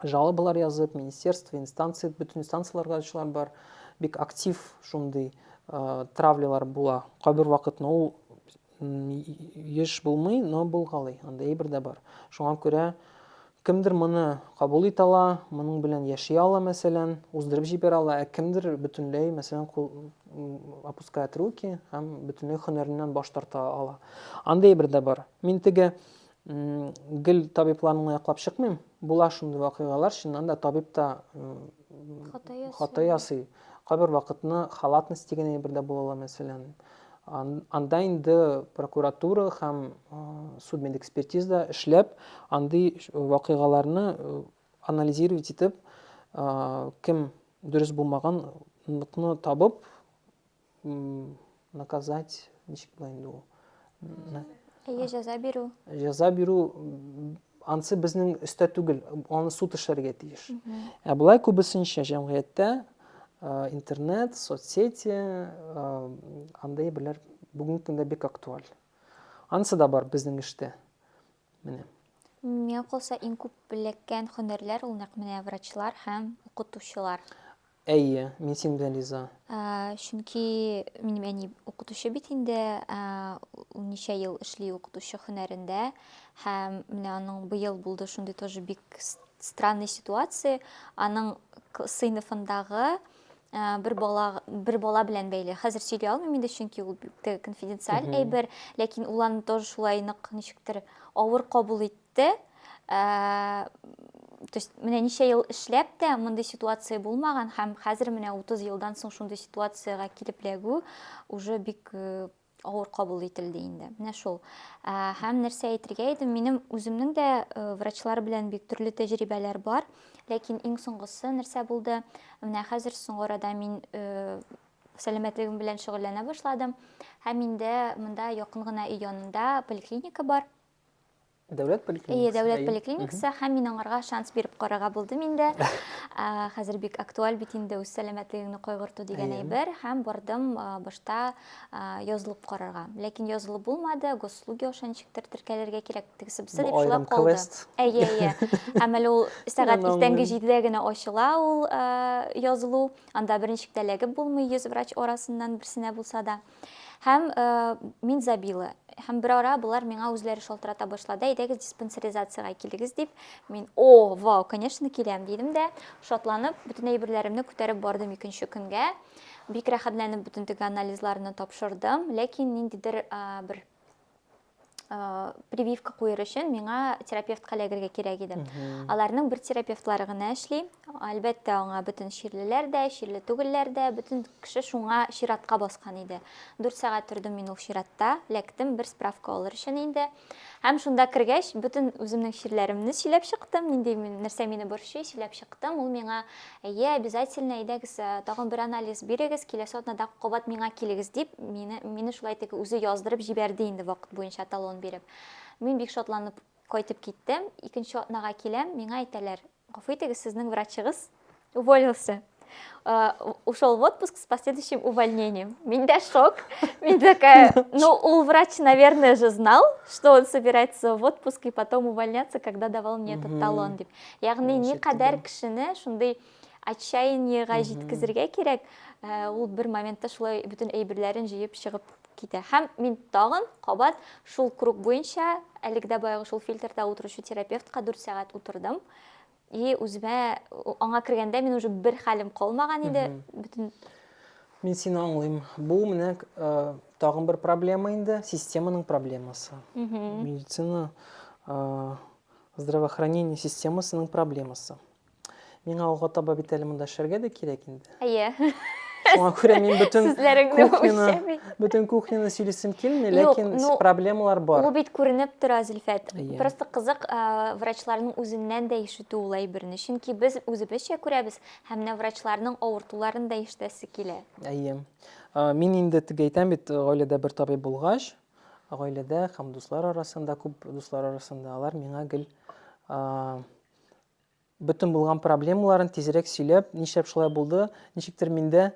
жалобалар язып, министерство, инстанция, бөтен инстанцияләргә ачулар бар. Бик актив шундый травлялар була. Кайбер вакытны ул еш булмый, но булгалый, андый әйбер дә бар. Шуңа күрә кемдер моны кабул итә ала, моның белән яши ала, мәсәлән, уздырып җибәрә ала, ә кемдер бөтенләй, мәсәлән, опускает руки һәм бөтенләй һөнәреннән баш тарта ала. Андый әйбер дә бар. Мин теге Гел табибларны гына яклап чыкмыйм. Була шундый вакыйгалар, чыннан да табиб та хата ясый. Кайбер вакытны халатность дигән әйбер дә була ала, мәсәлән. Анда инде прокуратура һәм судмедэкспертиза эшләп, андый вакыйгаларны анализировать итеп, кем дөрес булмаганлыкны табып, наказать ничек була инде ул әйе җәза бирү җәза бирү ансы безнең өстә түгел аны суд эшләргә тиеш ә болай күбесенчә җәмгыятьтә интернет соцсети андай берләр бүгенге көндә бик актуаль анысы да бар безнең эштә Менә. Миңа калса, иң күп эләккән хөнәрләр ул нәкъ менә врачлар һәм укытучылар. Әйе, мин синең белән риза. Чөнки минем әни укытучы бит инде, ул ничә ел эшли укытучы хөнәрендә һәм менә аның быел булды шундый тоже бик странный ситуация. Аның сыйныфындагы Э, бер бала бер бала белән бәйле хәзер сөйли алмыйм инде чөнки ул бик тә конфиденциаль әйбер ләкин ул аны тоже шулай нык ничектер авыр кабул итте э, то есть менә ничә ел эшләп тә мондый ситуация булмаган һәм хәзер менә 30 елдан соң шундый ситуациягә килеп эләгү уже бик э, авыр кабул ителде инде. Менә шул. Ә, һәм нәрсә әйтергә идем, минем үземнең дә э, врачлар белән бик төрле тәҗрибәләр бар, ләкин иң соңгысы нәрсә булды? Менә хәзер соңгы арада мин э, сәламәтлегем белән шөгыльләнә башладым һәм инде монда якын гына өй янында поликлиника бар. Дәүләт поликлиникасы. Әйе, дәүләт поликлиникасы һәм мин аңарга шанс биреп карарга булдым инде. Хәзер бик актуаль бит инде үз сәламәтлегеңне кайгырту дигән әйбер һәм бардым башта язылып карарга. Ләкин язылып булмады, госслуги аша ничектер теркәлергә кирәк тегесе бусы дип шулай калды. Әйе, әйе. Һәм әле ул сәгать иртәнге 7-дә генә ачыла ул язылу. Анда берничек тә эләгеп булмый, 100 врач арасыннан берсенә булса да. Һәм э, мин забила. Һәм бер ара болар миңа үзләре шалтырата башлады, әйдәгез диспансеризациягә килегез дип. Мин, о, вау, конечно, киләм, дидем дә, шатланып, бөтен әйберләремне күтәреп бардым икенче көнгә. Бик рәхәтләнеп бөтен теге анализларны тапшырдым, ләкин ниндидер э, бер Э, прививка куер өчен миңа терапевтка эләгергә кирәк иде аларның бер терапевтлары гына эшли әлбәттә аңа бөтен чирлеләр дә чирле түгелләр дә бөтен кеше шуңа чиратка баскан иде дүрт сәгать тордым мин ул чиратта ләктем бер справка алыр өчен инде һәм шунда кергәч бөтен үземнең чирләремне сөйләп чыктым нинди нәрсә мине борчый сөйләп чыктым ул миңа Әйе, обязательно, әйдәгез, тагын бер анализ бирегез, киләсе атнада кабат миңа килегез, дип, мине, мине шулай теге үзе яздырып җибәрде инде вакыт буенча талон биреп. Мин бик шатланып кайтып киттем, икенче атнага киләм, миңа әйтәләр, гафу итегез, сезнең врачыгыз уволился. ушел в отпуск с последующим увольнением. Миндя шок. Мин такая, ну, ул врач, наверное, же знал, что он собирается в отпуск и потом увольняться, когда давал мне этот талон, деп. Ягъни никадәр кешене шундый отчаяниега җиткезергә кирәк, э, ул бер моментта шулай бөтен әйберләрен җыеп чыгып китә. Һәм мин тагын кабат шул круг буенча, әлеге дә баягы шул фильтрда утыручы терапевтка 4 сәгать утырдым. И үземә аңа кергәндә мин уже бер хәлем калмаган иде. Бөтен Мин сине аңлыйм. Бу менә э, тагын бер проблема инде, системаның проблемасы. Медицина э, Здравоохранение системасының проблемасы. Миңа алга таба бит әле монда эшләргә дә кирәк инде. Әйе. Шуңа күрә мин бөтен кухняны, бөтен кухняны сөйлисем килми, ләкин ну, проблемалар бар. Ул бит күренеп тора, Зөлфәт. Иә. Просто кызык врачларның үзеннән дә ишетү ул әйберне. Чөнки без үзебезчә күрәбез һәм менә врачларның авыртуларын да ишетәсе килә. Әйе. Мин инде теге әйтәм бит, гаиләдә бер табиб булгач, Гаиләдә һәм дуслар арасында, күп дуслар арасында алар миңа гел бөтен булган проблемаларын тизрәк сөйләп, нишләп шулай булды, ничектер миндә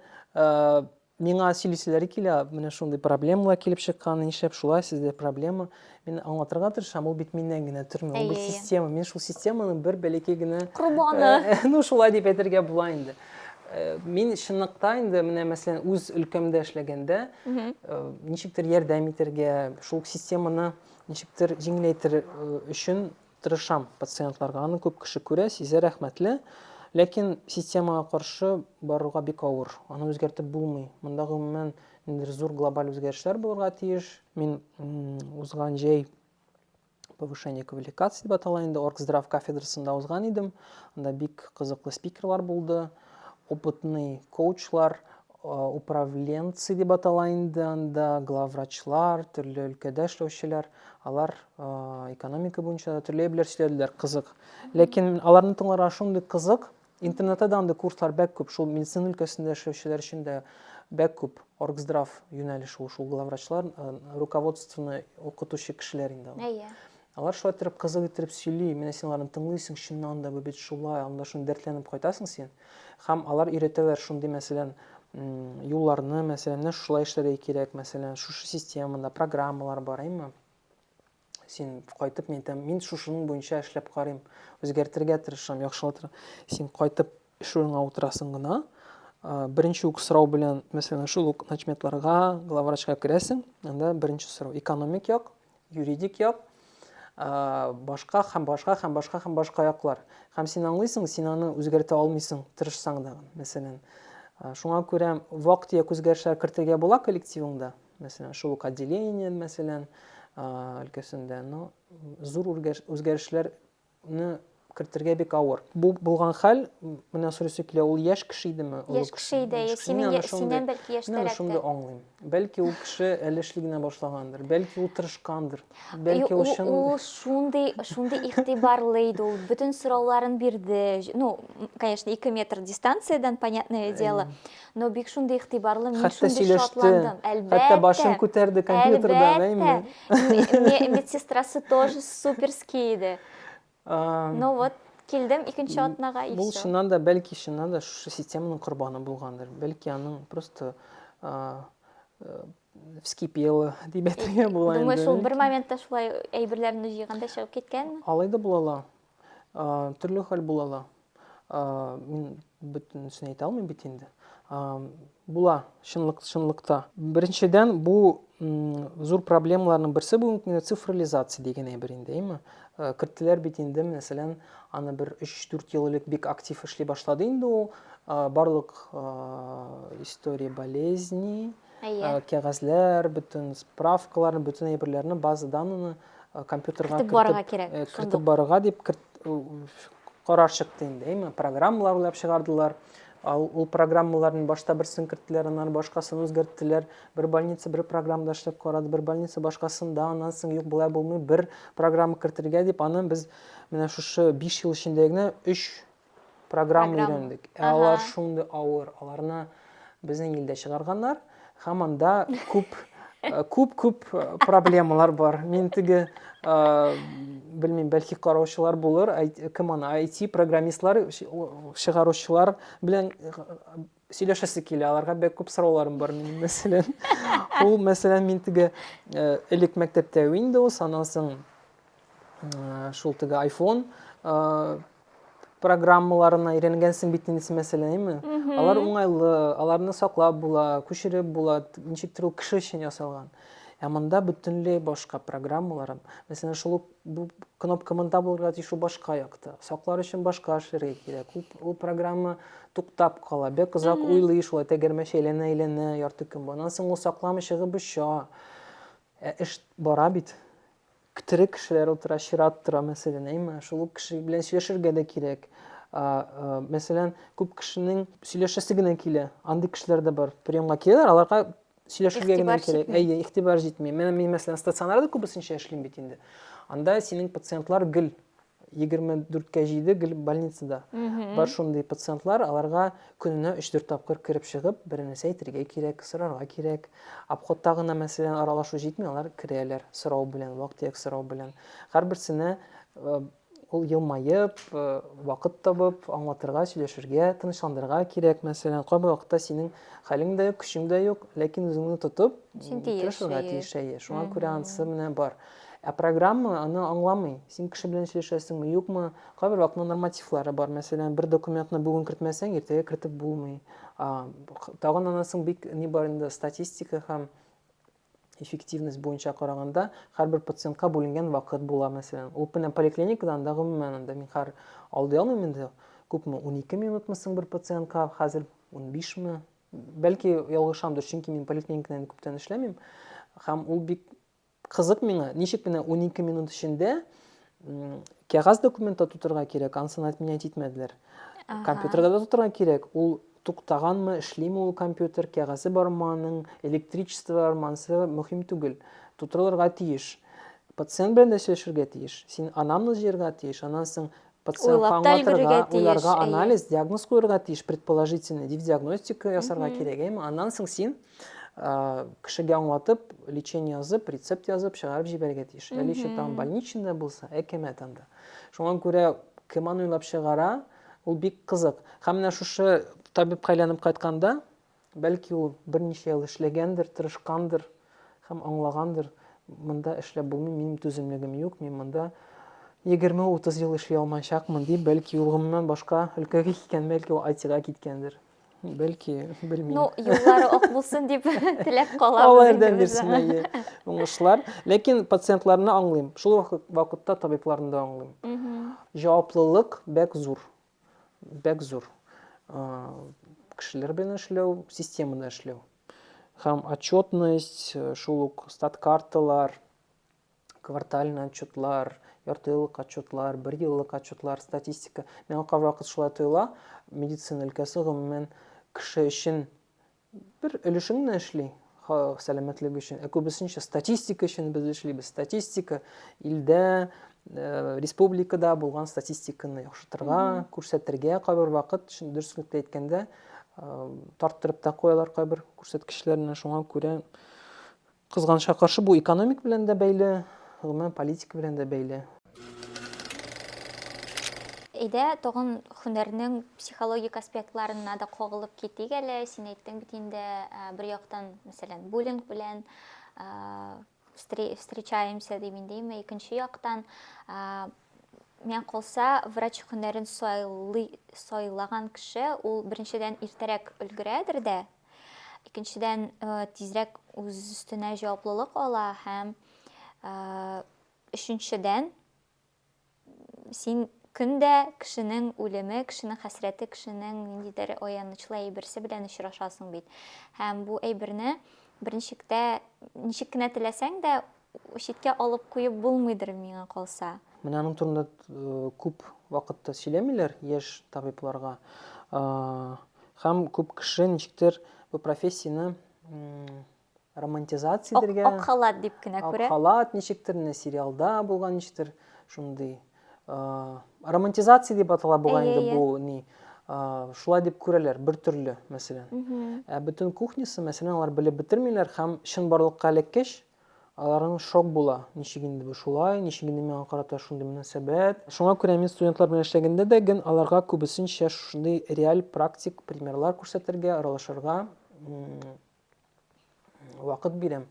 миңа сөйлиселәре килә, менә шундый проблемалар килеп чыккан, нишләп шулай, сездә проблема. Мин аңлатырга тырышам, ул бит миннән генә тормый, ул бит система. Мин шул системаның бер бәләкәй генә корбаны. Ну, шулай дип әйтергә була инде. Мин чынлыкта инде менә мәсәлән үз өлкәмдә эшләгәндә ничектер ярдәм итәргә, шул системаны ничектер җиңеләйтер өчен тырышам пациентларга. Аны күп кеше күрә, сизә рәхмәтле. Ләкин системага каршы барырга бик авыр. Аны үзгәртеп булмый. Монда гомумән ниндидер зур глобаль үзгәрешләр булырга тиеш. Мин узган җәй повышение квалификации дип атала инде оргздрав кафедрасында узган идем анда бик кызыклы спикерлар булды опытный коучлар управленцы дип атала инде анда главврачлар төрле өлкәдә эшләүчеләр алар экономика буенча да төрле әйберләр сөйләделәр кызык ләкин аларны тыңларга шундый кызык Интернетта да андый курслар бәк күп, шул медицина өлкәсендә эшләүчеләр өчен дә бәк күп. Оргздрав юнәлеше ул, шул главврачлар, э, руководствоны укытучы кешеләр инде алар. Әйе. Алар шулай иттереп кызык иттереп сөйли, менә син аларны тыңлыйсың, чыннан да бу бит шулай, анда шуны дәртләнеп кайтасың син. Һәм алар өйрәтәләр шундый, мәсәлән, м, юлларны, мәсәлән, менә шулай эшләргә кирәк, мәсәлән, шушы системада программалар бар, әйеме? син кайтып мин әйтәм мин шушының буенча эшләп карыйм үзгәртергә тырышам яхшылатыр син кайтып эш урыныңа утырасың гына беренче үк сорау белән мәсәлән шул ук начметларга главврачка керәсең анда беренче сорау экономик як юридик як башка һәм башка һәм башка һәм башка яклар һәм син аңлыйсың син аны үзгәртә алмыйсың тырышсаң да мәсәлән шуңа күрә вак төяк үзгәрешләр кертергә була коллективыңда мәсәлән, шул ук отделение, мәсәлән, өлкәсендә, но зур үзгәрешләрне кертергә бик авыр. Бу булган хәл, менә сорыйсы килә, ул яшь кеше идеме? Яшь кеше иде, синен, синен бәлки яшьтәрәк. Менә шуны аңлыйм. Бәлки ул кеше әле эшли генә башлагандыр, бәлки ул тырышкандыр, бәлки ул чын... Ул шундый, шундый игътибарлы иде, ул бөтен сорауларын бирде. Ну, конечно, ике метр дистанциядән, понятное дело. Но бик шундый игътибарлы, мин Хәтта шундый сөйләште, шатландым. Әлбәттә. Хәтта башын күтәрде компьютердан, әйме? Әлбәттә. Медсестрасы тоже суперский иде. Ну вот, килдем икенче атнага и все. Бу чыннан да, бәлки чыннан да шушы системаның корбаны булгандыр. Бәлки аның просто э, вскипело дип әйтергә була инде. Думаю, шул бер моментта шулай әйберләрне җыйганда чыгып киткәнме? Алай да була ала. Төрле хәл була ла. Мин бөтенесен әйтә алмыйм бит инде. Була, чынлык, чынлыкта. Беренчедән, бу зур проблемаларның берсе бүгенге көндә цифрализация дигән әйбер инде, әйме? Керттеләр бит инде, мәсәлән, аны бер 3-4 ел элек бик актив эшли башлады инде ул. Барлык история болезней, Әйе. Э, кәгазьләр, бөтен справкаларны, бөтен әйберләрне, база данныны э, компьютерга кертеп барырга кирәк. Э, кертеп барырга дип карар чыкты инде, әйме? Программалар уйлап чыгардылар. Ал ул программаларны башта берсен керттеләр, аннан башкасын үзгәрттеләр. Бер больница бер программада эшләп карады, бер больница башкасында, аннан соң юк болай булмый, бер программа кертергә дип, аны без менә шушы 5 ел эчендә генә 3 программа өйрәндек. Ә алар шундый авыр, аларны безнең илдә чыгарганнар. Һәм анда күп күп-күп э, э, проблемалар бар. Мин теге э, белмим, бәлки караучылар булыр, кем аны IT программистлар, чыгаручылар белән сөйләшәсе килә аларга бик күп сорауларым бар минем мәсәлән ул мәсәлән мин теге э, элек мәктәптә windows аннан соң э, шул теге iphone э, программаларына өйрәнгәнсең бит инде мәсәләме алар уңайлы аларны саклап була күчереп була ничектер ул кеше өчен ясалган ә монда бөтенләй башка программалар мәсәлән шул ук Бу кнопка монда булырга тиеш, ул башка якта. Саклар өчен башка эшләргә кирәк. Ул, ул программа туктап кала. Бик озак уйлый шулай, тәгәрмәч әйләнә-әйләнә ярты көн. Аннан соң ул сакламы чыгып оча. Ә эш бара бит. Тере кешеләр утыра, чират тора, мәсәлән, әйме? Шул кеше белән сөйләшергә дә кирәк. Мәсәлән, күп кешенең сөйләшәсе генә килә. Андый кешеләр дә бар. Приемга киләләр, аларга сөйләшергә генә кирәк. Әйе, игътибар җитми. Менә мин мәсәлән стационарда күбесенчә эшлим бит инде. Анда синең пациентлар гел 24-кә 7 гел больницада. Бар шундый пациентлар, аларга көненә 3-4 тапкыр кереп чыгып, беренесе әйтергә кирәк, сорарга кирәк. Обходта гына мәсәлән аралашу җитми, алар керәләр сорау белән, вак-төяк сорау белән. Һәрберсенә э, Ул елмаеп, вакыт табып, аңлатырга, сөйләшергә, тынычландырырга кирәк. Мәсәлән, кайбер вакытта синең хәлең дә юк, көчең дә юк, ләкин үзеңне тотып, тырышырга тиеш, әйе. Шуңа күрә анысы менә бар. Ә программа аны аңламый. Син кеше белән сөйләшәсеңме, юкмы? Кайбер вакытта нормативлары бар. Мәсәлән, бер документны бүген кертмәсәң, иртәгә кертеп булмый. Тагын анысың бик ни бар инде статистика һәм Эффективность буенча караганда, һәрбер пациентка бүленгән вакыт була, мәсәлән. Ул менә поликлиникада анда гомумән анда мин хәр алдый алмыйм инде. Күпме? Унике минутмы соң бер пациентка хәзер? Унбишме? Бәлки ялгышамдыр, чөнки мин поликлиникада инде күптән эшләмим. Һәм ул бик кызык миңа, ничек менә унике минут эчендә кәгазь документта тутырга кирәк, ансын отменять итмәделәр. Компьютерда да тутырга кирәк, ул туктаганмы, эшлиме ул компьютер, кәгазе бармы аның, электричество бармы, ансы мөһим түгел. Тутырылырга тиеш. Пациент белән дә сөйләшергә тиеш. Син анамны җыярга тиеш, аннан соң пациентка аңлатырга, уйларга анализ, диагноз куярга тиеш, предположительный дип диагностика ясарга кирәк, әйме? Аннан соң син кешегә аңлатып лечение язып рецепт язып чыгарып җибәрергә тиеш әле еще там больничный да булса әкәмәт анда шуңа күрә кем аны уйлап чыгара ул бик кызык һәм менә шушы табибка әйләнеп кайтканда бәлки ул берничә ел эшләгәндер тырышкандыр һәм аңлагандыр монда эшләп булмый минем түземлегем юк мин монда егерме утыз ел эшли алмаячакмын дип бәлки ул гомумән башка өлкәгә киткән бәлки ул айтига киткәндер Бәлки, белмим. Ну, юллары ак булсын дип теләп калабыз. Алла ярдәм бирсен, әйе. Уңышлар. Ләкин пациентларны аңлыйм. Шул вакытта табибларны да аңлыйм. Җаваплылык бәк зур. Бәк зур. Кешеләр белән эшләү, системада эшләү. Һәм отчетность, шул ук стат карталар, квартальный отчетлар, яртыеллык отчетлар, бер еллык отчетлар, статистика. Миңа кайвакыт шулай тоела, медицина өлкәсе гомумән кеше өчен бер өлешен генә эшли, сәламәтлек өчен. Ә күбесенчә статистика өчен без эшлибез. Статистика илдә, э, республикада булган статистиканы яхшыртырга, күрсәтергә кайбер вакыт, дөреслекте әйткәндә, э, тарттырып та куялар кайбер күрсәткечләрне, шуңа күрә Кызганычка каршы, бу экономик белән дә бәйле, гомумән политика белән дә бәйле. Әйдә, тагын һөнәрнең психологик аспектларына да кагылып китик әле. Син әйттең бит инде, бер яктан, мәсәлән, буллинг белән встречаемся дип индеме, икенче яктан, миңа калса, врач һөнәрен сайлаган кеше, ул беренчедән иртәрәк өлгерәдер дә, Икенчедән, тизрәк үз өстенә җаваплылык ала һәм өченчедән, син көн дә кешенең үлеме, кешенең хәсрәте, кешенең ниндидер аянычлы әйберсе белән очрашасың бит. Һәм бу әйберне берничек тә ничек кенә теләсәң дә читкә алып куеп булмыйдыр, миңа калса. Менә аның турында күп вакытта сөйләмиләр яшь табибларга. Һәм күп кеше ничектер бу профессияне романтизация итәргә. Ак халат дип кенә күрә. Ак халат ничектер, менә сериалда булган ничектер шундый. Романтизация дип атала бугай инде бу ни. Шулай дип күрәләр, бер төрле, мәсәлән. Ә бөтен кухнясы, мәсәлән, алар белеп бетермиләр һәм чынбарлыкка эләккәч, Аларың шок була, ничек инде бу шулай, ничек инде миңа карата шундый мөнәсәбәт. Шуңа күрә мин студентлар белән эшләгәндә дә ген аларга күбесенчә шушындый реаль практик примерлар күрсәтергә, аралашырга вакыт бирәм.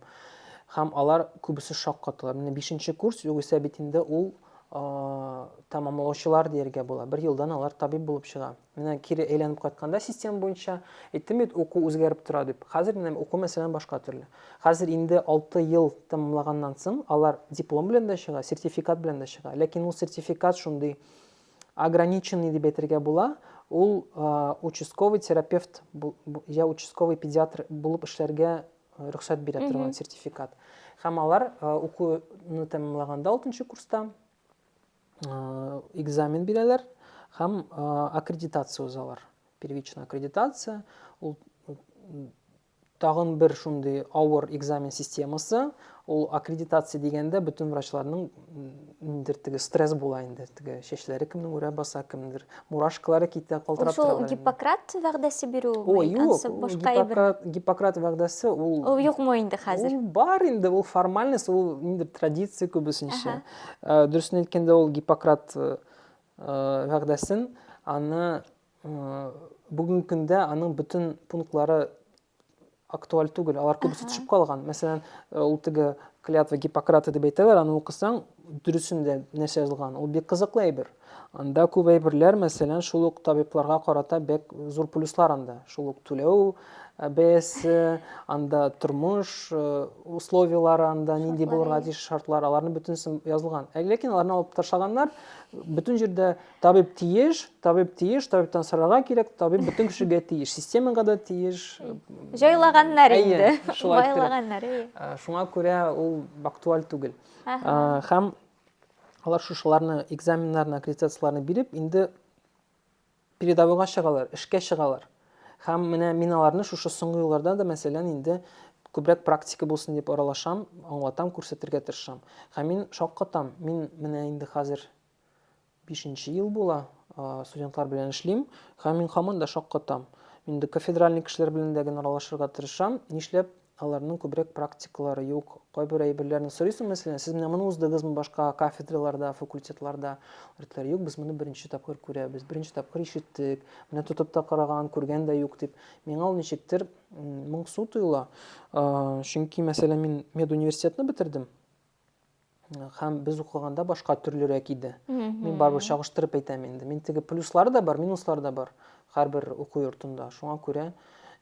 Һәм алар күбесе шок каталар. Менә бишенче курс, югыйсә бит инде ул тәмамлаучылар дияргә була. Бер елдан алар табиб булып чыга. Менә кире әйләнеп кайтканда система буенча, әйттем бит, уку үзгәреп тора дип. Хәзер менә уку мәсәлән башка төрле. Хәзер инде 6 ел тәмамлаганнан соң алар диплом белән дә чыга, сертификат белән дә чыга. Ләкин ул сертификат шундый ограниченный дип әйтергә була, ул участковый терапевт я участковый педиатр булып эшләргә рөхсәт бирә торган сертификат. Һәм алар укуны тәмамлаганда 6 курста экзамен бирәләр һәм аккредитация узалар. Первичная аккредитация ул тагын бер шундый авыр экзамен системасы. Ул аккредитация дигәндә бөтен врачларның ниндер теге стресс була инде. Теге чәчләре кемнең үрә баса, кемдер мурашкалары китә, калтырап тора. Ул Гиппократ вәгъдәсе бирү О, юк, Гиппократ, Гиппократ вәгъдәсе ул Ул юкмы инде хәзер? Ул бар инде, ул формальность, ул ниндер традиция күбесенчә. Ә, дөресен әйткәндә, ул Гиппократ э, вәгъдәсен, аны э, бүгенге көндә аның бөтен пунктлары актуаль түгел, алар күбесе төшеп калган. Мәсәлән, э, ул теге клятва Гиппократа дип әйтәләр, аны укысаң, дөресен дә нәрсә язылган. Ул бик кызыклы әйбер. Анда күп әйберләр, мәсәлән, шул ук табибларга карата бәк зур плюслар анда. Шул ук түләү э, бәясе, анда тормыш э, условияләре, анда нинди булырга тиеш шартлар, аларның бөтенесен язылган. Ә ләкин аларны алып ташлаганнар, бөтен җирдә табиб тиеш, табиб тиеш, табибтан сорарга кирәк, табиб бөтен кешегә тиеш, системага да тиеш. Җайлаганнар инде, байлаганнар. Шуңа күрә ул актуаль түгел. Һәм Алар шушыларны экзаменнарны, аккредитацияләрне биреп, инде передовойга чыгалар, эшкә чыгалар. Һәм менә мин аларны шушы соңгы елларда да, мәсәлән, инде күбрәк практика булсын дип аралашам, аңлатам, күрсәтергә тырышам. Һәм мин шаккатам, мин менә инде хәзер Бишенче ел була, студентлар белән эшлим, һәм мин һаман да шаккатам. Мин инде кафедральный кешеләр белән дә генераллашырга тырышам, нишләп аларның күбрәк практикалары юк? Кайбер әйберләрне сорыйсың, мәсәлән, сез менә моны уздыгызмы башка кафедраларда, факультетларда? Алар юк, без моны беренче тапкыр күрәбез, беренче тапкыр ишеттек, менә тотып та караган, күргән дә юк дип. Миңа ул ничектер моңсу тоела. Чөнки, мәсәлән, мин медуниверситетны бетердем, һәм без укыганда башка төрлерәк иде. Мин барыбер чагыштырып әйтәм инде. Мин теге плюслары да бар, минуслары да бар һәрбер уку йортында. Шуңа күрә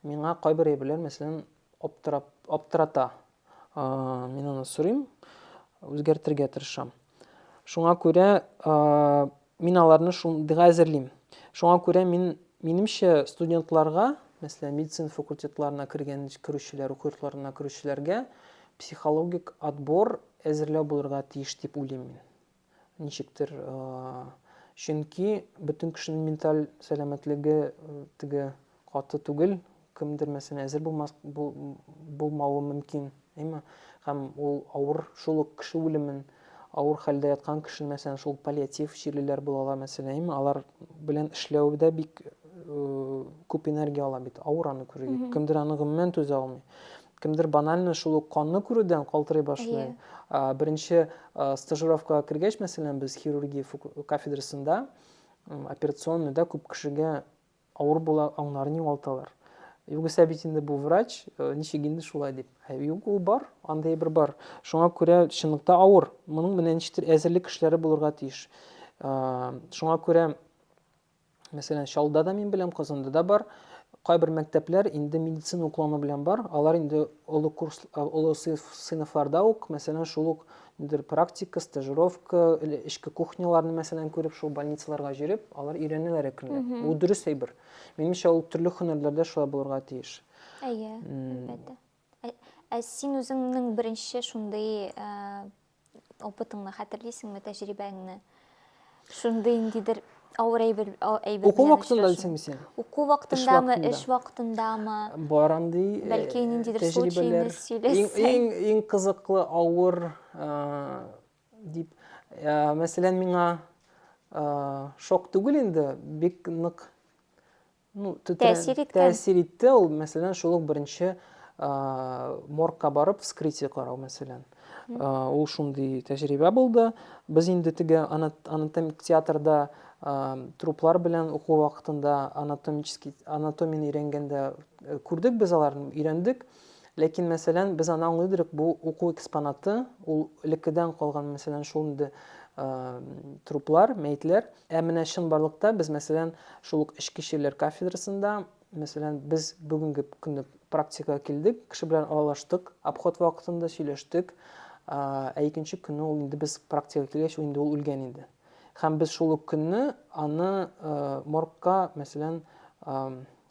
миңа кайбер әйберләр, мәсәлән, аптырап, аптырата. Мин аны сорыйм, үзгәртергә тырышам. Шуңа күрә Мин аларны шундыйга әзерлим. Шуңа күрә мин, минемчә, студентларга, мәсәлән, медицина факультетларына кергән, керүчеләр, уку йортларына керүчеләргә психологик отбор әзерләү булырга тиеш дип уйлыйм мин. Ничектер, чөнки бөтен кешенең менталь сәламәтлеге теге Каты түгел, кемдер мәсәлән әзер булмас, бу, булмавы мөмкин, әйме? Һәм ул авыр, шул ук кеше үлемен, авыр хәлдә яткан кешене, мәсәлән, шул паллиатив чирлеләр булалар, мәсәлән, әйме? Алар белән эшләү дә бик күп энергия ала бит, авыр аны күрү. Кемдер аны гомумән түзә алмый. Кемдер банально шул ук канны күрүдән калтырый башлый. Беренче стажировкага кергәч, мәсәлән, без хирургия кафедрасында операционныйда күп кешегә Авыр була, аңнарын югалталар. Югыйсә бит инде бу врач, э, ничек инде шулай дип. Ә юк, ул бар, андый бер бар. Шуңа күрә чынлыкта авыр. Моның менә ничектер әзерлек эшләре булырга тиеш. Э, шуңа күрә мәсәлән, Чалда да мин беләм, Казанда да бар. Кайбер мәктәпләр инде медицина уклану белән бар. Алар инде олы курс, э, олы сыйныфларда ук, мәсәлән, шул ук Нидер практика, стажировка, или эшке кухняларны мәсәлән күреп, шул больницаларга җөреп, алар өйрәнәләр әкренләп. Бу дөрес әйбер. Минемчә, ул төрле һөнәрләрдә шулай булырга тиеш. Әйе, әлбәттә. Ә, ә син үзеңнең беренче шундый опытыңны хәтерлисеңме, тәҗрибәңне? Шундый ниндидер авыр әйбер әйбер. Уку вакытында дисеңме син? Уку вакытындамы, эш вакытындамы? Бар андый. Э, Бәлки ниндидер случайны сөйләсәң. Иң иң кызыклы авыр э, дип э, мәсәлән миңа шок түгел инде, бик нык ну, тәэсир иткән тәэсир итте ул мәсәлән шул ук беренче моргка барып вскрытие карау мәсәлән ул шундый тәҗрибә булды без инде теге анатомик театрда труплар белән уку вакытында анатомический анатомияне өйрәнгәндә э, күрдек без аларны өйрәндек Ләкин, мәсәлән, без аны аңлый идек, бу уку экспонаты, ул элеккедән калган, мәсәлән, шул инде труплар, мәетләр. Ә менә чынбарлыкта без, мәсәлән, шул ук эчке чирләр кафедрасында, мәсәлән, без бүгенге көнне практикага килдек, кеше белән аралаштык, обход вакытында сөйләштек, ә икенче көнне ул инде без практикага килгәч, инде ул үлгән иде. Һәм без шул ук көнне аны моргка, мәсәлән,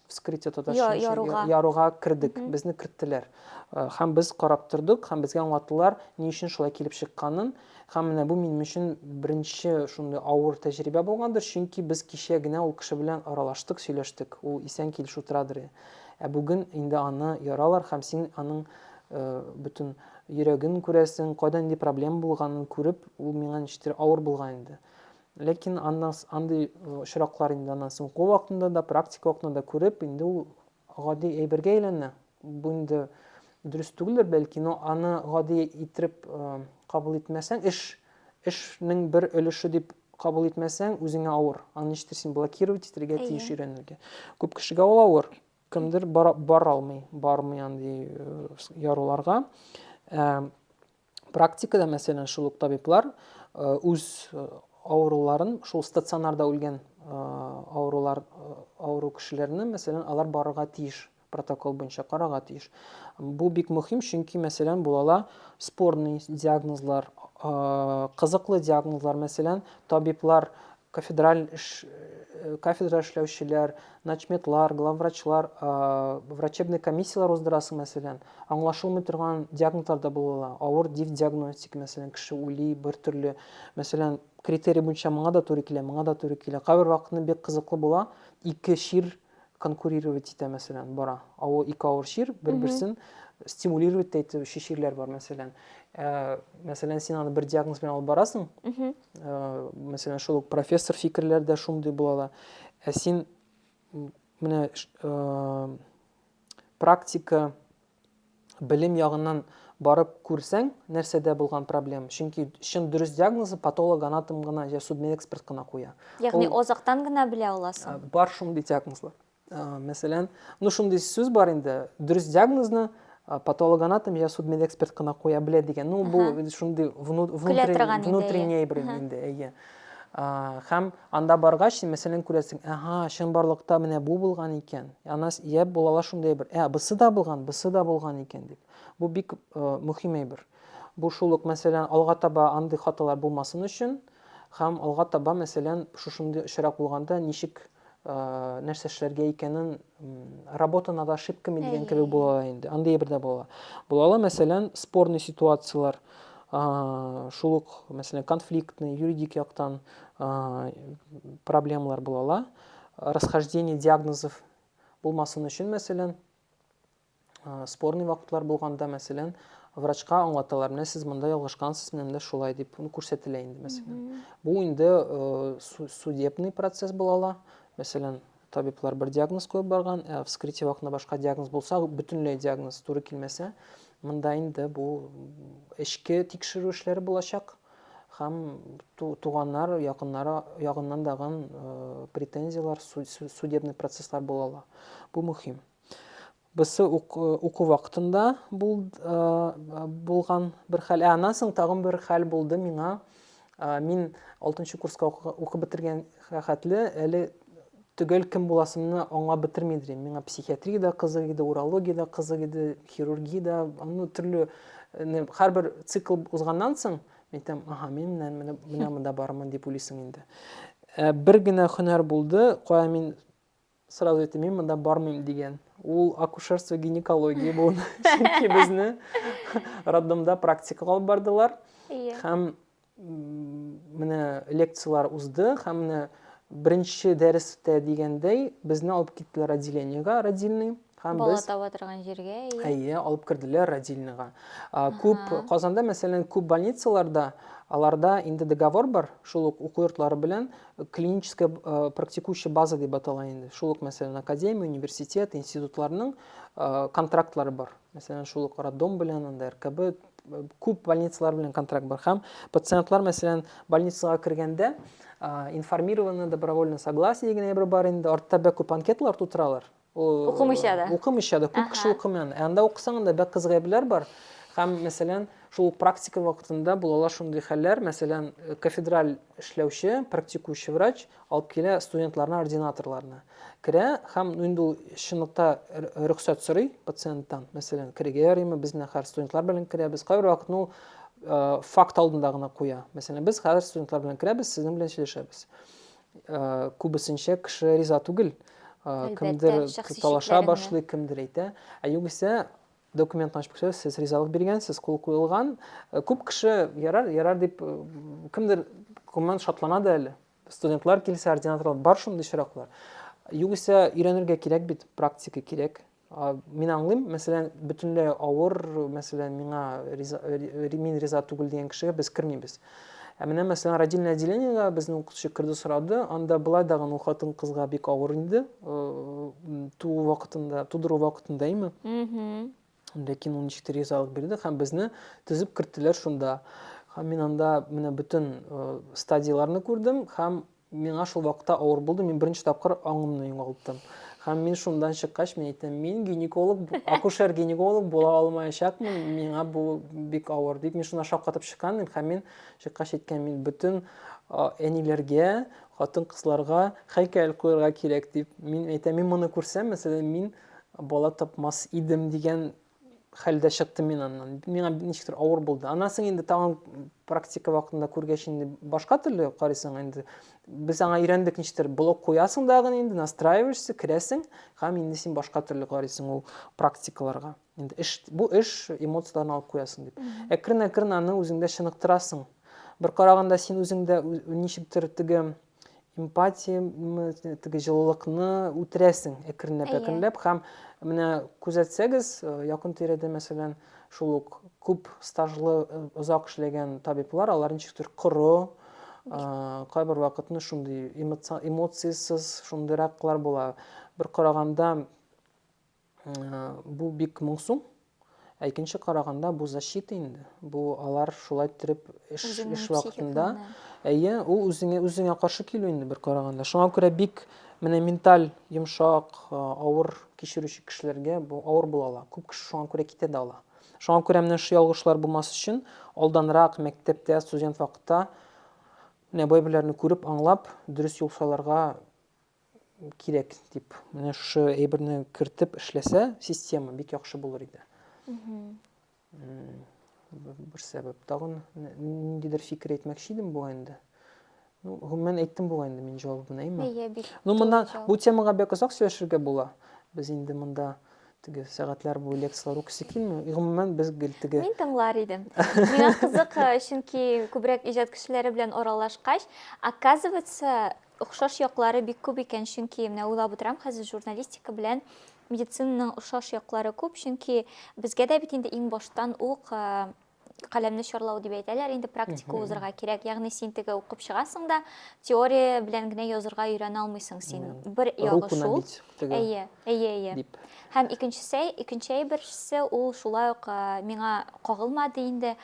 вскрытие татарча яруга. яруга кердек, безне керттеләр. Һәм без карап тордык, һәм безгә аңлаттылар, ни өчен шулай килеп чыкканын. Һәм менә бу минем өчен беренче шундый авыр тәҗрибә булгандыр, чөнки без кичә генә ул кеше белән аралаштык, сөйләштек, ул исән килеш утырадыр. Ә бүген инде аны яралар һәм син аның бөтен йөрәген күрәсең, кайда нинди проблема булганын күреп, ул миңа ничектер авыр булган инде. Ләкин аннан андый очраклар инде аннан соң уку вакытында да, практика вакытында да күреп, инде ул гади әйбергә әйләнә. Бу инде дөрес түгелдер бәлки, но аны гади иттереп кабул итмәсәң, эш эшнең бер өлеше дип кабул итмәсәң, үзеңә авыр. Аны ничектер син блокировать итәргә тиеш өйрәнергә. Күп кешегә ул авыр. Кемдер бара, бара алмый, бармый андый яруларга. Ә, практикада, мәсәлән, шул ук табиблар үз авыруларын шул стационарда үлгән авырулар авыру кешеләрне, мәсәлән, алар барырга тиеш протокол буенча карарга тиеш. Бу бик мөһим, чөнки, мәсәлән, булала спорный диагнозлар, кызыклы диагнозлар, мәсәлән, табиблар кафедраль эш, кафедра эшләүчеләр, начметлар, главврачлар, врачебный комиссияләр уздырасың, мәсәлән, аңлашылмый торган диагнозлар да була ала. Авыр див диагностика, мәсәлән, кеше ули, бер төрле, мәсәлән, критерий буенча моңа да туры килә, моңа да туры килә. Кайбер вакытны бик кызыклы була, ике чир конкурировать итә мәсәлән бара авыл ике авыр чир бер берсен стимулировать та итүче чирләр бар мәсәлән ә, мәсәлән син аны бер диагноз белән алып барасың ә, мәсәлән шул ук профессор фикерләре дә шундый була ала ә син менә ә, практика белем ягыннан барып күрсәң, нәрсәдә булган проблема. Чөнки чын дөрес диагнозы патологоанатом гына я судмедэксперт кына куя. Ягъни азактан гына белә аласың. Э, бар шундый диагнозлар. Э, мәсәлән, ну шундый сүз бар инде, дөрес диагнозны э, патологоанатом я судмедэксперт кына куя белә дигән. Ну бу шундый внутренний бер инде, әйе. Хәм анда баргач, мәсәлән, күрәсең, әһа, чынбарлыкта менә бу булган икән. Ана яб булала шундый бер, ә бысы да булган, бысы да булган икән дип. Бу бик мөһим әйбер. Бу шул ук, мәсәлән, алга таба андый хаталар булмасын өчен, хәм алга таба, мәсәлән, шушындый очрак булганда ничек Э, нәрсә эшләргә икәнен работа над ошибками дигән кебек була ала инде андый бер дә була була ала мәсәлән спорный ситуациялар шул ук мәсәлән конфликтный юридик яктан проблемалар була ала расхождение диагнозов булмасын өчен мәсәлән Спорный вакытлар булганда, мәсәлән, врачка аңлаталар, менә сез монда ялгышкансыз, менә монда шулай дип, ну, күрсәтелә инде, мәсәлән. Бу инде э, судебный процесс була ала. Мәсәлән, табиблар бер диагноз куеп барган, ә вскрытие вакытында башка диагноз булса, бөтенләй диагноз туры килмәсә, монда инде бу эчке тикшерү эшләре булачак һәм туганнар, якыннары ягыннан дагын э, претензияләр, судебный процесслар була ала. Бу мөһим. Берсе уку вакытында булган бер хәл. Ә аннан соң тагын бер хәл булды миңа. Мин 6 курска укып бетергән хәтле әле төгәл кем буласымны аңлап бетерми дим. Миңа психиатрия да кызык иде, урология да кызык иде, хирургия да, ну, төрле һәрбер цикл узганнан соң мин там, ага, мин менә менә монда бармын дип уйлыйсың инде. Бер генә һөнәр булды, кая мин сразу әйтте мин монда бармыйм дигән ул акушерство гинекология буын чөнки безне роддомда практикага алып бардылар һәм менә лекциялар узды һәм менә беренче дәрестә дигәндәй безне алып киттеләр отделениега родильный Һәм Бала без таба торган җиргә, әйе. Әйе, алып керделәр родильныйга. Күп Казанда, мәсәлән, күп больницаларда аларда инде договор бар, шул ук уку йортлары белән э, клиническая э, практикующая база дип атала инде. Шул ук, мәсәлән, академия, университет, институтларның э, контрактлары бар. Мәсәлән, шул ук роддом белән, анда РКБ күп больницалар белән контракт бар. Һәм пациентлар, мәсәлән, больницага кергәндә информированы добровольно согласие дигән әйбер бар инде. Артта бәк күп анкеталар тутыралар. Укымыйча да. Укымыйча да, күп кеше укымый аны. Ә анда укысаң, анда бәк кыз гайбләр бар. Һәм, мәсәлән, шул ук практика вакытында булалар шундый хәлләр, мәсәлән, э, кафедраль эшләүче, практикующий врач алып килә студентларына ординаторларны. Керә һәм инде ул чынлыкта рөхсәт сорый пациенттан, мәсәлән, керергә ярыймы, без менә хәзер студентлар белән керәбез. Кайбер вакытны ул э, факт алдында гына куя. Мәсәлән, без хәзер студентлар белән керәбез, сезнең белән сөйләшәбез. күбесенчә кеше риза түгел. Кемдер талаша башлый, кемдер әйтә. Ә югыйсә документны ачып күрсәтсә, сез ризалык биргәнсез, кул куелган. Күп кеше ярар, ярар дип кемдер күңелен шатлана да әле. Студентлар килсә, ординаторлар бар шундый очраклар. Югыйсә өйрәнергә кирәк бит, практика кирәк. Мин аңлыйм, мәсәлән, бөтенләй авыр, мәсәлән, миңа риза, мин риза түгел дигән кешегә без кермибез. Ә менә, мәсәлән, родильное отделениега безнең укытучы керде сорады, анда былай да гын хатын кызга бик авыр инде, туу вакытында, тудыру вакытында име. Ләкин ул ничектер ризалык бирде һәм безне тезеп керттеләр шунда. Һәм мин анда менә бөтен стадияләрне күрдем һәм Миңа шул вакытта авыр булды, мин беренче тапкыр аңымны югалттым. Һәм мин шундан чыккач, мин әйттем, мин гинеколог, акушер-гинеколог була алмаячакмын, миңа бу бик авыр, дип мин шунда шаккатып чыккан идем, һәм мин чыккач әйткән, мин бөтен әниләргә, хатын-кызларга һәйкәл куярга кирәк, дип мин әйтәм, мин моны күрсәм, мәсәлән, мин бала тапмас идем дигән хәлдә чыктым мин аннан. Миңа ничектер авыр булды. Аннан соң инде тагын практика вакытында күргәч инде башка төрле карыйсың инде. Без аңа өйрәндек ничектер блок куясың дагы инде, настраиваешься, керәсең һәм инде син башка төрле карыйсың ул практикаларга. Инде эш бу эш эмоцияләрне алып куясың дип. Әкрен-әкрен аны үзеңдә чыныктырасың. Бер караганда син үзеңдә ничектер теге эмпатия теге җылылыкны үтерәсең әкренләп әкренләп һәм менә күзәтсәгез э, якын тирәдә мәсәлән шул ук күп стажлы э, озак эшләгән табиблар алар ничектер коры э, кайбер вакытны шундый эмоциясез шундыйраклар була бер караганда Бу бик моңсу. Ә икенче караганда бу защита инде. Бу алар шулай иттереп эш, эш вакытында. Әйе, ул үзеңә, үзеңә каршы килү инде бер караганда. Шуңа күрә бик менә менталь йомшак, авыр кичерүче кешеләргә бу авыр була ала. Күп кеше шуңа күрә китә дә ала. Шуңа күрә менә шушы ялгышлар булмас өчен алданрак мәктәптә, студент вакытта менә бай-берләрне күреп, аңлап, дөрес юл сайларга кирәк дип менә шушы әйберне кертеп эшләсә система бик яхшы булыр иде бер сәбәп тагын ниндидер фикер әйтмәкче идем бугай инде ну гомумән әйттем бугай инде мин җавабын әйме иә бик ну моннан бу темага бик озак сөйләшергә була без инде монда теге сәгатьләр буе лекцияләр укыйсы килми гомумән без гел теге мин тыңлар идем миңа кызык чөнки күбрәк иҗат кешеләре белән аралашкач оказывается Охшаш яклары бик күп икән, чөнки менә уйлап утырам хәзер, журналистика белән медицинаның охшаш яклары күп, чөнки безгә дә бит инде иң баштан ук каләмне чарлау дип әйтәләр, инде практика узырга кирәк. Ягъни син теге укып чыгасың да, теория белән генә язырга өйрәнә алмыйсың син. Бер ягы шул. Әйе, әйе, әйе. Һәм икенчесе, икенче әйберсе ул шулай ук миңа кагылмады инде.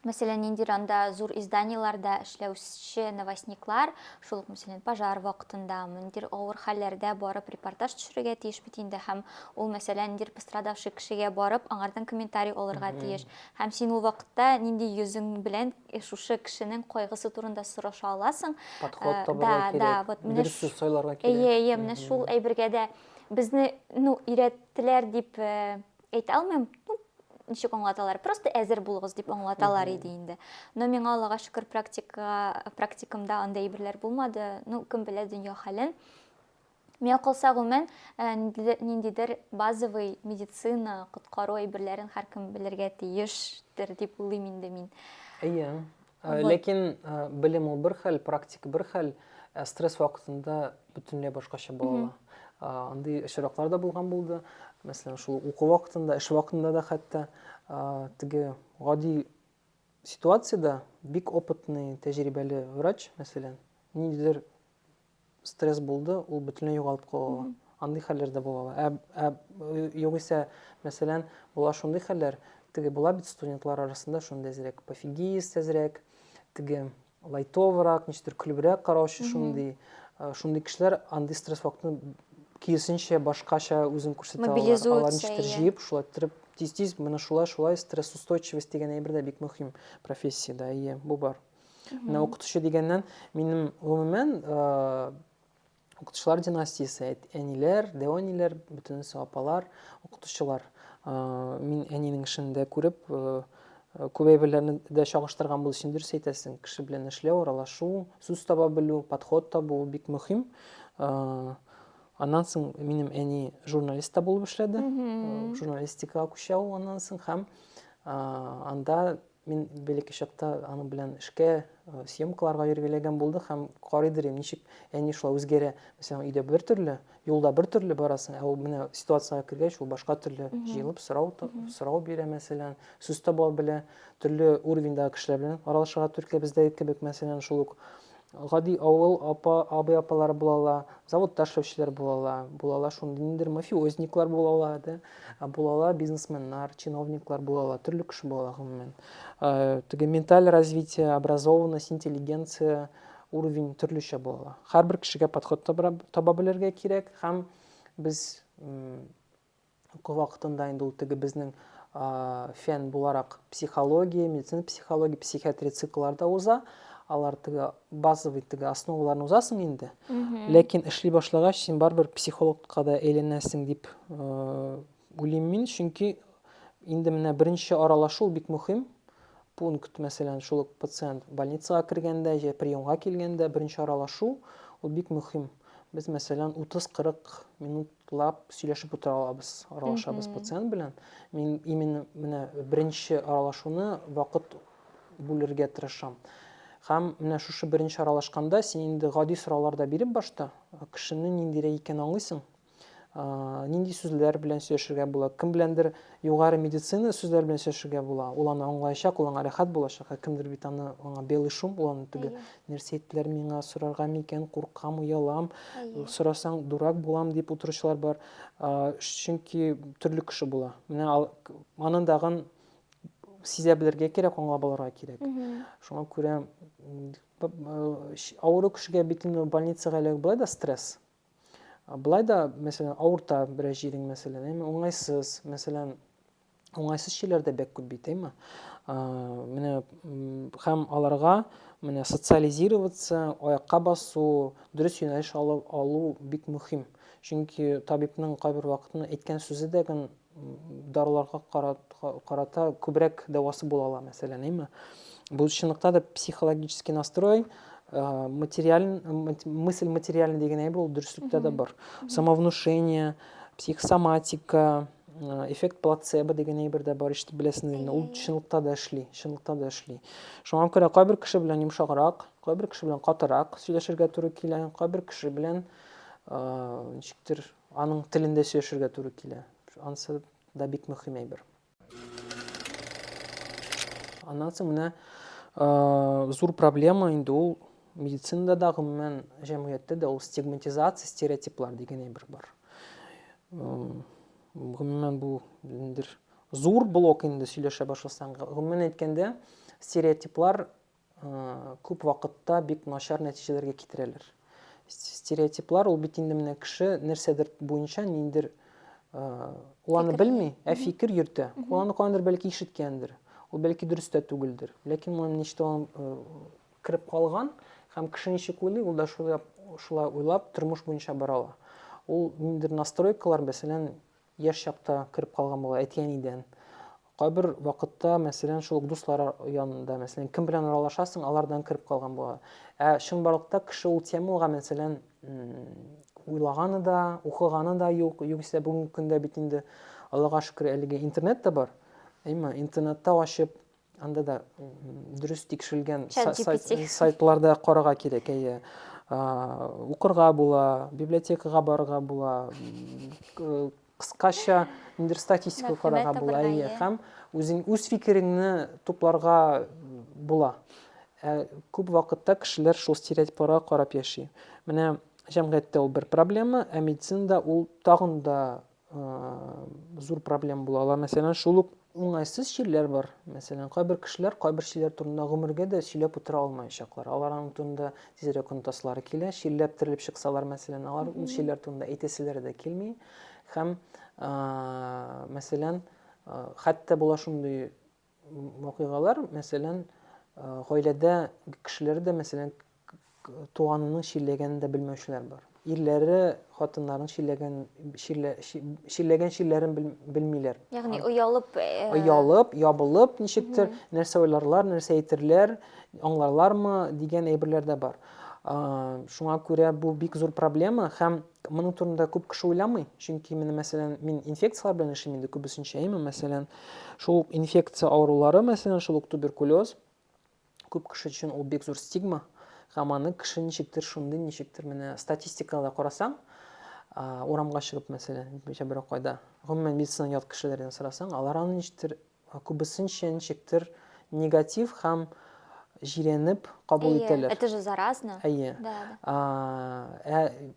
мәсәлән, ниндидер анда зур изданиеләрдә эшләүче новостниклар, шул ук, мәсәлән, пожар вакытында, ниндидер авыр хәлләрдә барып репортаж төшерергә тиеш бит инде, һәм ул, мәсәлән, ниндидер пострадавший кешегә барып, аңардан комментарий алырга тиеш. Һәм син ул вакытта нинди йөзең белән э, шушы кешенең кайгысы турында сораша аласың. Подход э, табарга да, кирәк. Да, вот менә дөрес сүз сайларга кирәк. Әйе, әйе, менә шул әйбергә дә безне, ну, өйрәттеләр дип э, Әйтә алмыйм, ну, ничек аңлаталар, просто әзер булыгыз дип аңлаталар иде инде. Но миңа Аллага шөкер практика, практикамда андай әйберләр булмады. Ну, кем белә дөнья хәлен. Миңа калса гомумән э, ниндидер базовый медицина, коткару әйберләрен һәркем белергә тиештер дип уйлыйм инде мин. Әйе. Ә, ләкин ә, белем ул бер хәл, практика бер хәл, ә стресс вакытында бөтенләй башкача була ала. Андый очраклар да булган булды. Мәсәлән, шул уку вакытында, эш вакытында да хәтта теге гади ситуацияда бик опытный, тәҗрибәле врач, мәсәлән, ниндидер стресс булды, ул бөтенләй югалып кала. Андый хәлләр дә була. Ә, ә югыйсә, мәсәлән, була шундый хәлләр, теге була бит студентлар арасында шундый әзрәк пофигист әзрәк, теге лайтоврак, ничектер көлебрәк караучы шундый. Э, шундый кешеләр андый стресс вакытын киресенчә башкача үзен күрсәтә алар. Алар ничектер җыеп, шулай торып тиз-тиз менә шулай-шулай стресс устойчивость дигән әйбер дә бик мөһим профессиядә. Әйе, бу бар. Менә укытучы дигәннән, минем гомумән укытучылар династиясе, әниләр, дәвәниләр, бөтенесе апалар, укытучылар. Мин әнинең эшен дә күреп, күбәй белән дә чагыштырган булу өчен дөрес әйтәсең. Кеше белән эшләү, аралашу, сүз таба белү, подход табу бик мөһим. Аннан соң минем әни журналист та булып эшләде. Журналистикага күчә ул аннан соң һәм анда Мин бәләкәй чакта аның белән эшкә, э, съемкаларга йөрергә эләгән булды һәм карый дирем, ничек әни шулай үзгәрә. Мәсәлән, өйдә бер төрле, юлда бер төрле барасың, ә ул менә ситуациягә кергәч, ул башка төрле җыелып сорау сорау бирә, мәсәлән, сүз таба белә, төрле уровеньдагы кешеләр белән аралашырга туры килә. Бездәге кебек, мәсәлән, шул ук гади авыл апа, абый-апалары була ала, заводта эшләүчеләр була ала, була ала шундый ниндидер мафиозниклар була ала, да, була ала бизнесменнар, чиновниклар була ала, төрле кеше була ала гомумән. Теге менталь развитие, образованность, интеллигенция уровень төрлечә була ала. Һәрбер кешегә подход таба белергә кирәк һәм без Уку вакытында инде ул теге безнең фән буларак психология, медицина психология, психиатрия цикллары да уза. Алар теге базовый теге основаларын узасың инде. Ләкин эшли башлагач, син барыбер психологка да әйләнәсең дип уйлыйм мин, чөнки инде менә беренче аралашу бик мөһим пункт, мәсәлән, шул ук пациент больницага кергәндә, җә приемга килгәндә беренче аралашу, ул бик мөһим. Без, мәсәлән, 30-40 минут Лап сөйләшеп утыра алабыз, аралашабыз пациент белән. Мин именно менә беренче аралашуны вакыт бүлергә тырышам. Һәм менә шушы беренче аралашканда син инде гади сораулар да биреп башта, кешене ниндирәк икәнен аңлыйсың. Нинди сүзләр белән сөйләшергә була, кем беләндер югары медицина сүзләр белән сөйләшергә була. Ул аны аңлаячак, ул аңа рәхәт булачак, ә кемдер бит аны аңа белый шум, ул аны түгел. Нәрсә әйттеләр миңа, сорарга микән, куркам, оялам, сорасаң дурак булам дип утыручылар бар. Чөнки төрле кеше була. Менә аны дагын сизә белергә кирәк, аңлап алырга кирәк. Шуңа күрә авыру кешегә бит инде больницага эләгү былай да стресс. Былай да, мәсәлән, авырта бераз җирең, мәсәлән, әйме, уңайсыз, мәсәлән, уңайсыз шейләр дә бәк күп бит, әйме. Менә һәм аларга менә социализироваться, аякка басу, дөрес юнәлеш алып алу бик мөһим. Чөнки табибның кайбер вакытны әйткән сүзе дә гын даруларга карата күбрәк дәвасы була ала, мәсәлән, әйме. Бу чынлыкта да психологический настрой, э, материаль, мысль материальный деген әйбер ул дөреслектә дә бар. Самовнушение, психосоматика, э, эффект плацебо деген әйбер дә бар, ишетеп беләсең инде. Ул чынлыкта да эшли, чынлыкта да эшли. Шуңа күрә кайбер кеше белән йомшаграк, кайбер кеше белән катырак сөйләшергә туры килә, кайбер кеше белән э, ничектер Аның телендә сөйләшергә туры килә. Ансы да бик мөһим әйбер. Аннан соң менә зур проблема инде ул медицинада да гомумән җәмгыятьтә дә ул стигматизация, стереотиплар дигән әйбер бар. Гомумән бу ниндидер зур блок инде сөйләшә башласаң. Гомумән әйткәндә, стереотиплар күп вакытта бик начар нәтиҗәләргә китерәләр. Стереотиплар ул бит инде менә кеше нәрсәдер буенча ниндер ул аны белми, ә фикер йөртә. Ул аны каяндыр бәлки ишеткәндер. Ул бәлки дөрес тә түгелдер. Ләкин моны ничтә кереп калган һәм кеше ничек уйлый, ул да шулай шулай уйлап тормыш буенча бара ала. Ул ниндер настройкалар, мәсәлән, Яшь чакта кереп калган була әти-әнидән. Кайбер вакытта, мәсәлән, шул ук дуслар янында, мәсәлән, кем белән аралашасың, алардан кереп калган була. Ә чынбарлыкта кеше ул темага, мәсәлән, уйлаганы да, укыганы да юк. Югыйсә бүгенге көндә бит инде Аллага шөкер, әлеге интернет та бар. Әйме, интернетта ачып, Анда да дөрес тикшерелгән сайтларда карага кирәк, әйе. Укырга була, библиотекага барырга була, кыскача ниндер статистика карага була, әйе, һәм үзең үз фикереңне тупларга була. Ә күп вакытта кешеләр шул стереотипларга карап яши. Менә җәмгыятьтә ул бер проблема, ә медицинада ул тагын да зур проблем була ала. Мәсәлән, шул ук уңайсыз чирләр бар. Мәсәлән, кайбер кешеләр кайбер чирләр турында гомергә дә сөйләп утыра алмаячаклар. Аларның турында тизрәк онтаслары килә. Чирләп терелеп чыксалар, мәсәлән, алар ул чирләр турында әйтәселәре дә килми. Һәм, мәсәлән, хәтта була шундый вакыйгалар, мәсәлән, гаиләдә кешеләр дә, мәсәлән, туганының чирләгәнен дә белмәүчеләр бар. Ирләре хатыннарын чирләгән чирләгән чирләрен белмиләр. Ягъни оялып, оялып, ябылып ничектер нәрсә уйларлар, нәрсә әйтерләр, аңларлармы дигән әйберләр дә бар. Шуңа күрә бу бик зур проблема һәм Моның турында күп кеше уйламый, чөнки менә мәсәлән, мин инфекцияләр белән эшлим инде күбесенчә, әйме, мәсәлән, шул ук инфекция авырулары, мәсәлән, шул ук туберкулез, күп кеше өчен ул бик зур стигма, һәм аны кеше ничектер шундый, ничектер менә статистикада карасаң, урамга чыгып, мәсәлән, берәү кайда, гомумән медицина ят кешеләрдән сорасаң, алар аны ничектер Күбесенчә ничектер негатив һәм җирәнеп кабул Әйе, ителер. это же заразно. Әйе. Да, да. А, ә,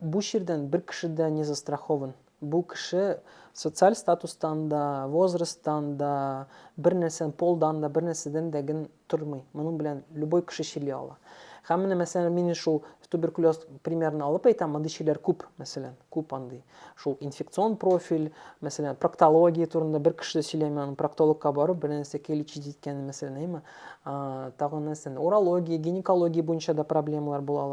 бу чирдән бер кеше дә не застрахован. Бу кеше социаль статустан да, возрасттан да, бер нәрсән, полдан да, бер нәрсәдән дә ген тормый. Моның белән любой кеше чили ала. Һәм менә мәсәлән мин шул туберкулез примерны алып әйтәм, мондый чиләр күп, мәсәлән, күп андый. Шул инфекцион профиль, мәсәлән, проктология турында бер кеше дә сөйләми, аның проктологка барып бер нәрсә лечить иткәне мәсәлән, әйме. Тагын нәрсә, урология, гинекология буенча да проблемалар була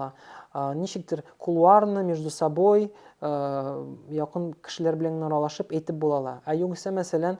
ала. Ничектер кулуарны между собой якын кешеләр белән аралашып әйтеп була ала. Ә югыйсә мәсәлән,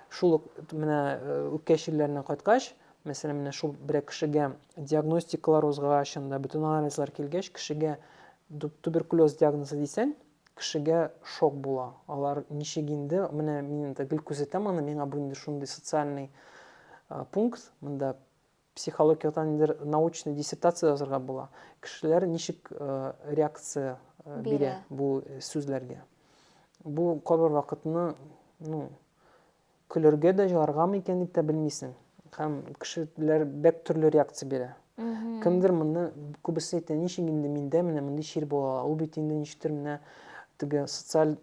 Шул ук менә үпкә чирләренә кайткач, мәсәлән, менә шул берәр кешегә диагностикалар узгач, анда бөтен анализлар килгәч, кешегә туберкулез диагнозы дисәң, кешегә шок була. Алар ничек инде, менә мин инде гел күзәтәм аны, миңа бу инде шундый социальный пункт, монда Психологиядә ниндидер научный диссертация язарга була. Кешеләр ничек реакция бирә бу сүзләргә? Бу кабер вакытны, ну, көлергә дә җыларга микән дип тә белмисең. Һәм кешеләр бәк төрле реакция бирә. Кемдер моны күбесе әйтә, ничек инде миндә менә мондый чир була, ул бит инде ничектер менә теге социаль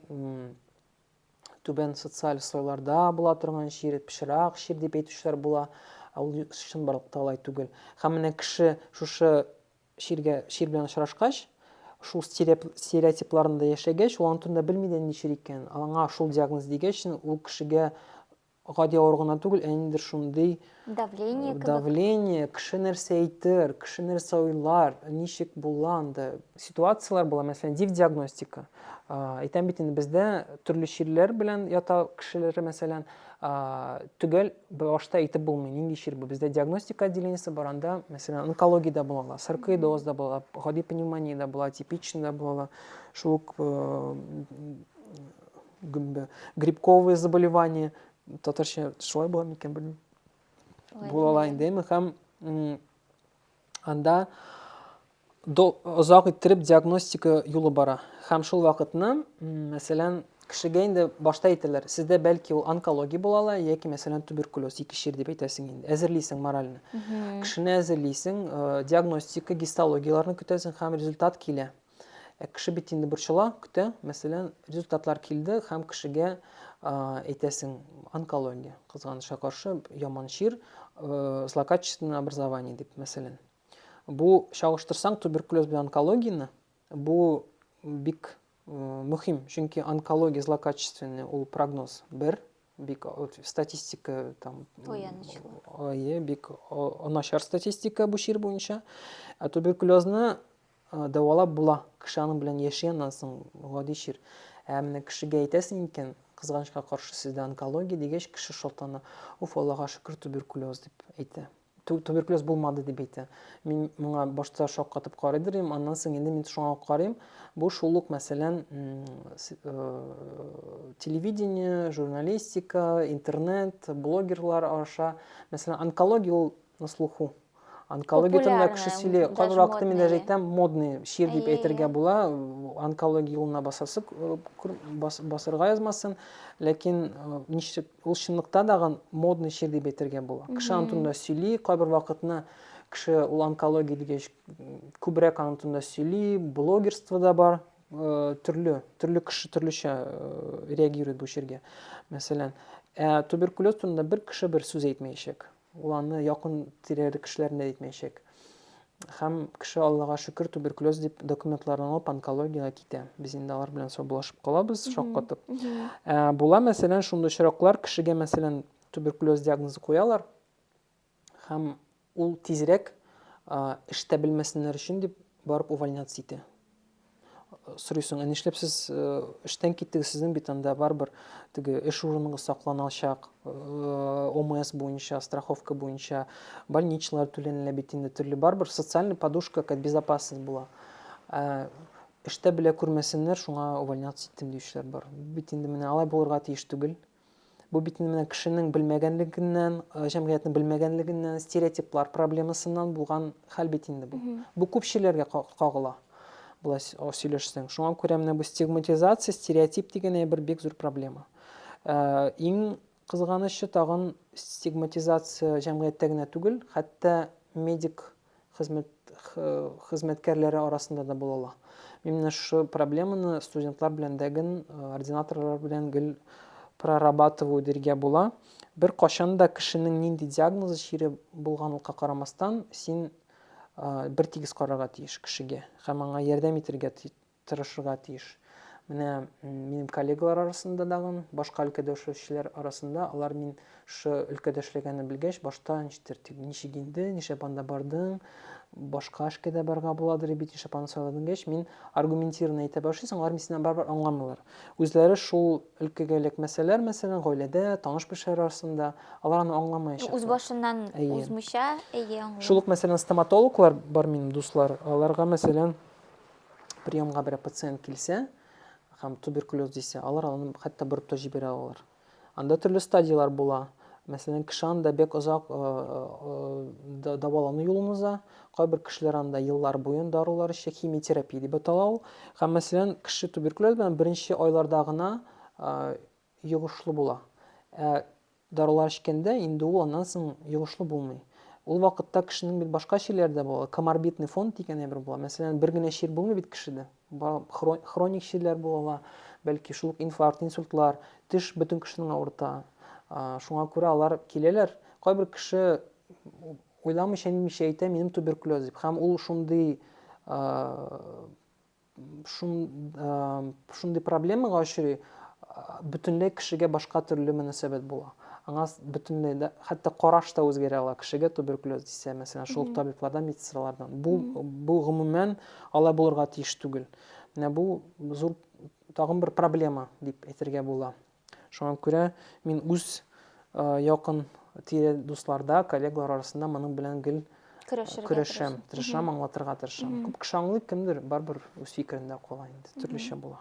түбән социаль слойларда була торган чир, пычрак чир дип әйтүчеләр була. Ә ул чынбарлыкта алай түгел. Һәм менә кеше шушы чиргә чир белән очрашкач, шул стереотипларында яшәгәч, ул аны турында белми дә ничер икән. Аңа шул диагноз дигәч, ул кешегә гади авыру гына түгел, ә ниндидер шундый давление кебек. Давление, кеше нәрсә әйтер, кеше нәрсә уйлар, ничек була анда. Ситуацияләр була, мәсәлән, див диагностика. Әйтәм бит инде бездә төрле чирләр белән ята кешеләре, мәсәлән, төгәл башта әйтеп булмый, нинди чир бу. Бездә диагностика отделениесе бар, анда, мәсәлән, онкологиядә булалар, саркоидозда була, гади пневмониядә була, типичныйда була, шул ук э, гөмбә. Грибковые заболевания, татарча шулай була микән белмим. Булала инде, әйме, һәм анда озак иттереп диагностика юлы бара. Һәм шул вакытны, мәсәлән, кешегә инде башта әйтәләр, сездә бәлки ул онкология була ала, яки мәсәлән туберкулез, ике чир дип әйтәсең инде. Әзерлисең морально. Кешене әзерлисең, э, диагностика, гистологияләрне көтәсең һәм результат килә. Ә кеше бит инде борчыла, көтә. Мәсәлән, результатлар килде һәм кешегә әйтәсең, онкология, кызганычка каршы, яман чир, э, злокачественное образование дип, мәсәлән. Бу чагыштырсаң туберкулез белән онкологияне, бу бик э, мөһим, чөнки онкология злокачественный ул прогноз бер, бик статистика там ое бик начар статистика бу чир буенча ә туберкулезны Дәвалап була, кеше аның белән яши аннан соң, гади чир. Ә менә кешегә әйтәсең икән, кызганычка каршы, сездә онкология дигәч, кеше шатлана. Уф, Аллага шөкер, туберкулез дип әйтә. Туберкулез булмады дип әйтә. Мин моңа башта шаккатып карый дирем, аннан соң инде мин шуңа карыйм. Бу шул ук, мәсәлән, телевидение, журналистика, интернет, блогерлар аша, мәсәлән, онкология ул на слуху. Онкология турында кеше сөйли, кайбер вакытта мин даже әйтәм, модный шир дип әйтергә була, онкология юлына басасы басырга язмасын, ләкин ничек ул чынлыкта дагы модный шир дип әйтергә була. Кеше аны турында сөйли, кайбер вакытны кеше ул онкология дигәч күбрәк аны турында сөйли, блогерство да бар, төрле, төрле кеше төрлечә реагирует бу ширгә. Мәсәлән, ә туберкулез турында бер кеше бер сүз әйтмәячәк. Ул аны якын тирәле кешеләрне дә әйтмәячәк. Һәм кеше, Аллага шөкер, туберкулез дип документларын алып онкологиягә китә. Без инде алар белән саубулашып калабыз, шаккатып. Ә, була, мәсәлән, шундый очраклар, кешегә, мәсәлән, туберкулез диагнозы куялар, һәм ул тизрәк эштә белмәсеннәр өчен дип барып увольняться итә. сорыйсың, ә нишләп сез эштән киттегез, сезнең бит анда барыбер теге эш урыныгыз сакланалачак, ОМС буенча, страховка буенча, больничалар түләнелә бит инде төрле, барыбер социальный подушка, как безопасность була. Ә эштә белә күрмәсеннәр, шуңа увольняться иттем диючеләр бар. Бит инде менә алай булырга тиеш түгел. Бу бит менә кешенең белмәгәнлегеннән, э, җәмгыятьнең белмәгәнлегеннән, стереотиплар проблемасыннан булган хәл бит инде бу. Бу күпчеләргә кагыла. Болай сөйләшсәң. Шуңа күрә менә бу стигматизация, стереотип дигән әйбер бик зур проблема. Э, иң кызганычы тагын стигматизация җәмгыятьтә генә түгел, хәтта медик хезмәт хезмәткәрләре арасында да була ала. Мин менә шушы проблеманы студентлар белән дә гел, ординаторлар белән гел прорабатываю диргә була. Бер качан да кешенең нинди диагнозы чире булганлыкка карамастан, син бер тигез карарга тиеш кешегә һәм аңа ярдәм итәргә тырышырга тиеш. Менә минем коллегалар арасында дагын, башка өлкәдә эшләүчеләр арасында, алар мин шы өлкәдә эшләгәнне белгәч, башта ничектер, тик ничек инде, нишләп анда бардың, башка эшкә дә барга буладыр бит, нишләп аны сайладың дигәч, мин аргументированно әйтә башлыйсың, алар минсеннән барыбер аңламыйлар. Үзләре шул өлкәгә эләкмәсәләр, мәсәлән, гаиләдә, таныш-белешләр арасында, алар аны аңламаячаклар. Үз башыннан узмыйча, әйе, аңлыйм. Шул ук, мәсәлән, стоматологлар бар минем дуслар, аларга, мәсәлән, приемга берәр пациент килсә һәм туберкулез дисә, алар аны хәтта борып та җибәрә алалар. Анда төрле стадияләр була. Мәсәлән, кеше анда бик озак э, э, э, дәвалану юлын уза. Кайбер кешеләр анда еллар буен дарулар эчә, химиотерапия дип атала ул. Һәм мәсәлән, кеше туберкулез белән беренче айларда гына йогышлы була. Ә Дарулар эчкәндә инде ул аннан соң йогышлы булмый. Ул вакытта кешенең бит башка чирләре дә була, коморбидный фонд дигән әйбер була. Мәсәлән, бер генә чир булмый бит кешедә. Хроник чирләр була ала, бәлки шул ук инфаркт, инсультлар, теш бөтен кешенең авырта. Шуңа күрә алар киләләр. Кайбер кеше уйламыйча-нитмичә әйтә, минем туберкулез дип. Һәм ул шундый шундый проблемага очрый, бөтенләй кешегә башка төрле мөнәсәбәт була. Аңа бөтенләй дә, хәтта караш та үзгәрә ала кешегә туберкулез дисә, мәсәлән, шул табиблардан, медсестралардан. Бу, бу гомумән алай булырга тиеш түгел. Менә бу зур тагын бер проблема дип әйтергә була. Шуңа күрә мин үз якын тирә дусларда, коллегалар арасында моның белән гел көрәшәм, тырышам, аңлатырга тырышам. Күп кеше аңлый, кемдер барбер үз фикерендә кала инде, төрлечә була.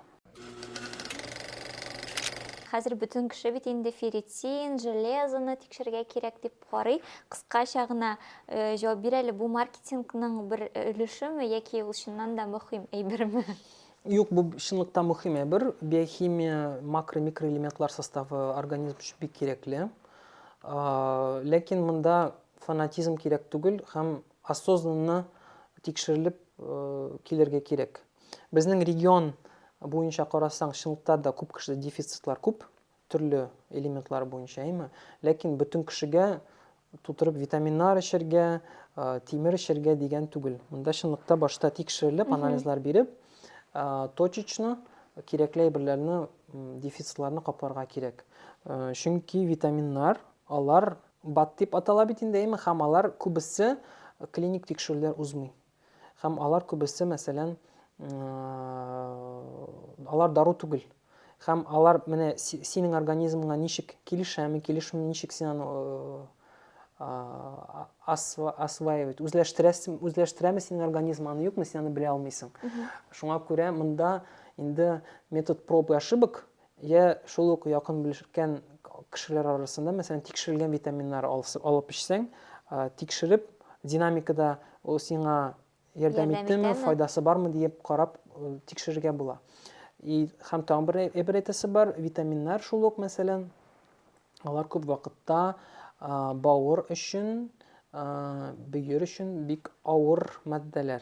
Хәзер бөтен кеше бит инде ферритин, железоны тикшергә кирәк дип карый. Кыскача гына җавап бир әле, бу маркетингның бер өлешеме яки ул чыннан да мөһим әйберме? Юк, бу чынлыкта мөһим әйбер. Биохимия, макро, микроэлементлар составы организм өчен бик кирәкле. Ләкин монда фанатизм кирәк түгел һәм осознанно тикшерелеп килергә кирәк. Безнең регион буенча карасаң, чынлыкта да күп кешедә дефицитлар күп. төрле элементлар буенча, әйме? Ләкин бөтен кешегә тутырып витаминнар эчергә, тимер эчергә дигән түгел. Монда чынлыкта башта тикшерелеп, анализлар биреп, точечно кирәкле әйберләрне, дефицитларны капларга кирәк. Чөнки витаминнар, алар бат дип атала бит инде, әйме, һәм алар күбесе клиник тикшерүләр узмый. Һәм алар күбесе, мәсәлән, алар дару түгел. Һәм алар менә синең организмыңа ничек килешәме, килешми, ничек син аны осваивать, үзләштерәсең, үзләштерәме синең организм аны юкмы, син аны белә алмыйсың. Шуңа күрә монда инде метод проб и ошибок Йә шул ук якын белешкән кешеләр арасында, мәсәлән, тикшерелгән витаминнар алып эчсәң, тикшереп, динамикада ул сиңа ярдәм иттеме, файдасы бармы диеп карап тикшерергә була. И һәм тагын бер әйбер әйтәсе бар, витаминнар шул ук, мәсәлән, алар күп вакытта бавыр өчен, бөер өчен бик авыр матдәләр.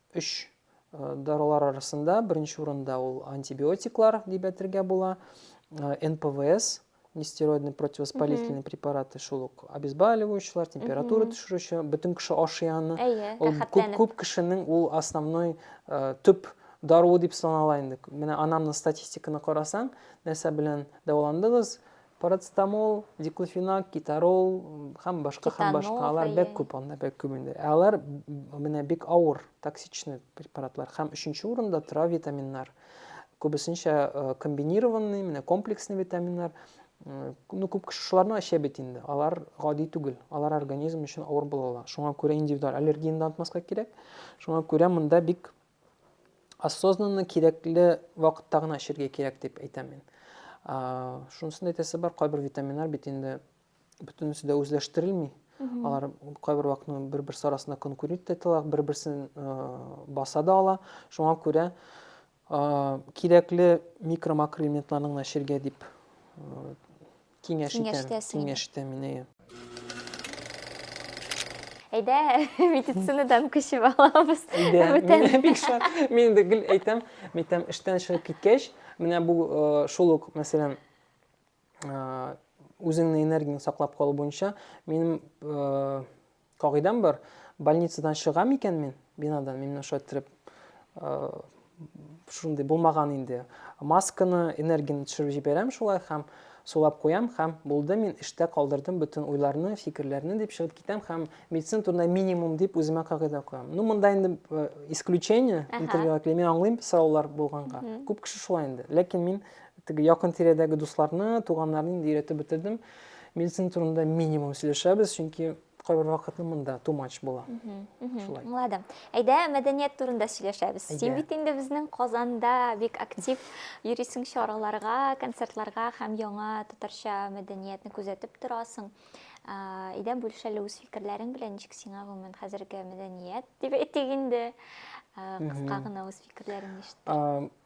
Өч дарулар арасында беренче урында ул антибиотиклар дип әйтергә була. НПВС, нестероидный противовоспалительный препараты шул ук обезболивающийлар температура төшерүче бөтен кеше ашый аны ул күп, күп кешенең ул основной ә, төп даруы дип санала инде менә анамның статистиканы карасаң нәрсә белән дәваландыгыз Парацетамол, диклофенак, китарол һәм башка һәм башка алар бик күп анда бик күп инде. Ә алар менә бик авыр, токсичный препаратлар һәм өченче урында тора витаминнар. Күбесенчә э, комбинированный, менә комплексный витаминнар. Э, ну, күп кеше шуларны эчә бит инде. Алар гади түгел. Алар организм өчен авыр була ала. Шуңа күрә индивидуаль аллергияне дә онытмаска кирәк. Шуңа күрә монда бик осознанно кирәкле вакытта гына эчәргә кирәк дип әйтәм мин. Шунысын әйтәсе бар, кайбер витаминнар бит инде бөтенесе дә үзләштерелми. Алар кайбер вакытның бер-бер арасында конкурент итә, бер-берсен баса да ала. Шуңа күрә кирәкле микро-макроэлементларны гына эчәргә дип Киңәш итәм. Киңәштәсең инде. Киңәш итәм мин, әйе. Әйдә, медицинадан күчеп алабыз. Әйдә, Бүтән. мин бик шат. Мин инде гел әйтәм, мин әйтәм, эштән чыгып киткәч, менә бу э, шул ук, мәсәлән, э, үзеңне энергияңне саклап калу буенча минем э, Кагыйдәм бар, больницадан чыга микән мин, бинадан, мин менә шулай иттереп, шундый булмаган инде. Масканы, энергияне төшереп җибәрәм шулай һәм сулап куям һәм булды мин эштә калдырдым бөтен уйларны, фикерләрне дип чыгып китәм һәм медицина турында минимум дип үземә кагыйдә куям. Ну, монда инде э, исключение, интервьюга килә, мин аңлыйм сораулар булганга. Күп кеше шулай инде. Ләкин мин теге якын тирәдәге дусларны, туганнарны инде өйрәтеп бетердем. Мин синең турында минимум сөйләшәбез, чөнки кайбер вакытны монда too much була. Шулай. Аңладым. Әйдә, мәдәният турында сөйләшәбез. Син бит инде безнең Казанда бик актив йөрисең чараларга, концертларга һәм яңа татарча мәдәниятне күзәтеп торасың. Әйдә, бүлешәле үз фикерләрең белән, ничек сиңа гомумән хәзерге мәдәният дип әйтик инде. Кыска гына үз фикерләреңне ишетте.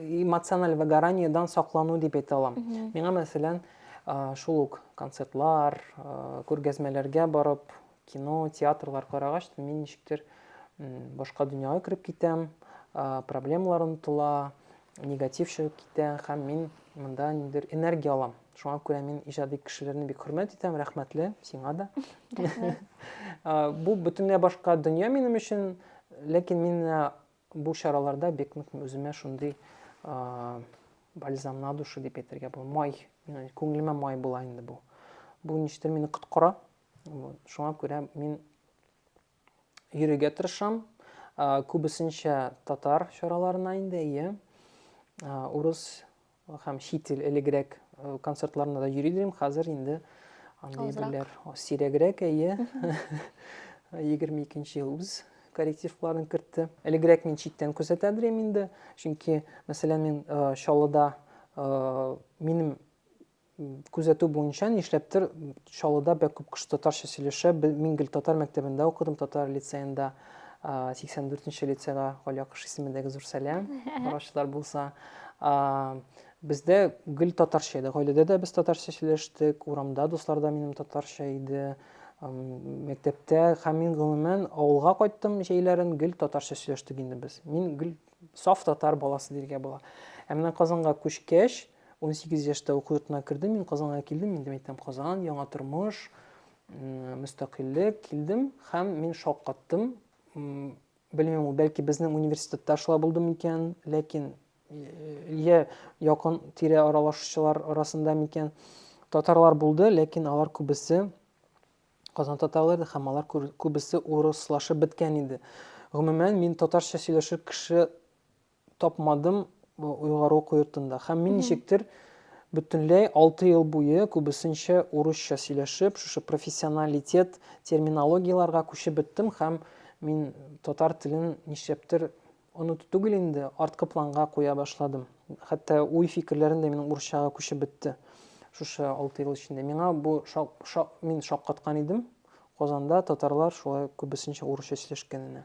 эмоциональ выгораниедан саклану дип әйтә алам. Миңа, мәсәлән, шул ук концертлар, күргәзмәләргә барып, кино, театрлар карагач, мин ничектер башка дөньяга кереп китәм, проблемалар онытыла, негатив чыгып китә һәм мин монда ниндидер энергия алам. Шуңа күрә мин иҗади кешеләрне бик хөрмәт итәм, рәхмәтле сиңа да. Бу бөтенләй башка дөнья минем өчен, ләкин мин Бу чараларда бик нык үземә шундый бальзам на душу дип әйтергә була. Май, мин күңелемә май була инде бу. Бу ништер мине коткара. Шуңа күрә мин йөрергә тырышам. Күбесенчә татар чараларына инде, ие. Урыс Һәм чит ил элегрәк концертларына да йөри идем, хәзер инде андый берләр сирәгрәк, әйе. 22 ел үз коррективларын кертте. Элегрәк мин читтән күзәтә идем инде, чөнки, мәсәлән, мин Чаллыда минем Күзәтү буенча, нишләптер, Чаллыда бәк күп кеше татарча сөйләшә. Мин гел татар мәктәбендә укыдым, татар лицеенда. 84 нче лицейга Галия Кыш исемендәге зур сәлам, караучылар булса. Бездә гел татарча иде. Гаиләдә дә без татарча сөйләштек, урамда дуслар да минем татарча иде. Мәктәптә һәм мин гомумән авылга кайттым җәйләрен, гел татарча сөйләштек инде без. Мин гел саф татар баласы дияргә була. Ә менә Казанга күчкәч, 18 яшьтә уку йортына кердем, мин Казанга килдем, инде әйтәм Казан, яңа тормыш, мөстәкыйльлек, килдем һәм мин шаккаттым. Белмим, бәлки безнең университетта шулай булды микән, ләкин я якын тирә аралашучылар арасында микән татарлар булды, ләкин алар күбесе Казан татарлары һәм алар күбесе урыслашып беткән иде. Гомумән, мин татарча сөйләшер кеше тапмадым уйгару уку йортында. Һәм мин ничектер бөтенләй алты ел буе күбесенчә урысча сөйләшеп, шушы профессионалитет терминологияләргә күчеп беттем һәм мин татар телен нишләптер оныту түгел инде, арткы планга куя башладым. Хәтта уй-фикерләрем дә минем урысчага күчеп бетте. Шушы алты ел эчендә миңа бу шак, шак, мин шаккаткан идем. Казанда татарлар шулай күбесенчә урысча сөйләшкәненә.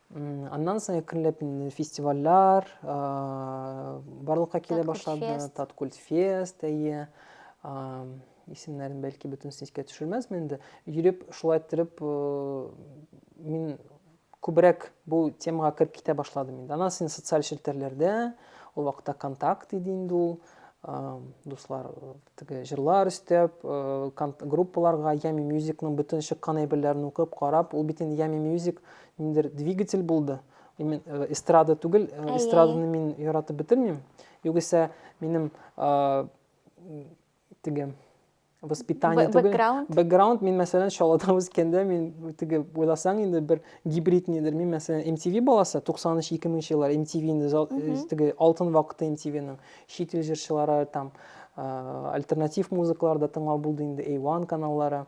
Аннан соң әкренләп фестивальләр барлыкка килә башлады. Таткульт фест, әйе. Исемнәрен бәлки бөтенесен искә төшермәсмен инде. Йөреп, шулай иттереп мин күбрәк бу темага кереп китә башладым инде. Аннан соң социаль челтәрләрдә, ул вакытта контакт иде инде ул, дуслар Теге җырлар өстәп, группаларга Yummy Music-ның бөтен чыккан әйберләрен укып, карап, ул бит инде Yummy Music ниндер двигатель булды. Мин эстрада түгел, эстраданы мин яратып бетермим. Югыйсә, минем теге воспитание түгел. Бэкграунд. мин, мәсәлән, шалада үскәндә, мин теге уйласаң инде бер гибрид нидер. Мин, мәсәлән, MTV баласы, 93-2000 еллар MTV инде теге алтын вакыты MTV-ның. чит ил җырчылары там альтернатив музыкалар да тыңлау булды инде A1 каналлары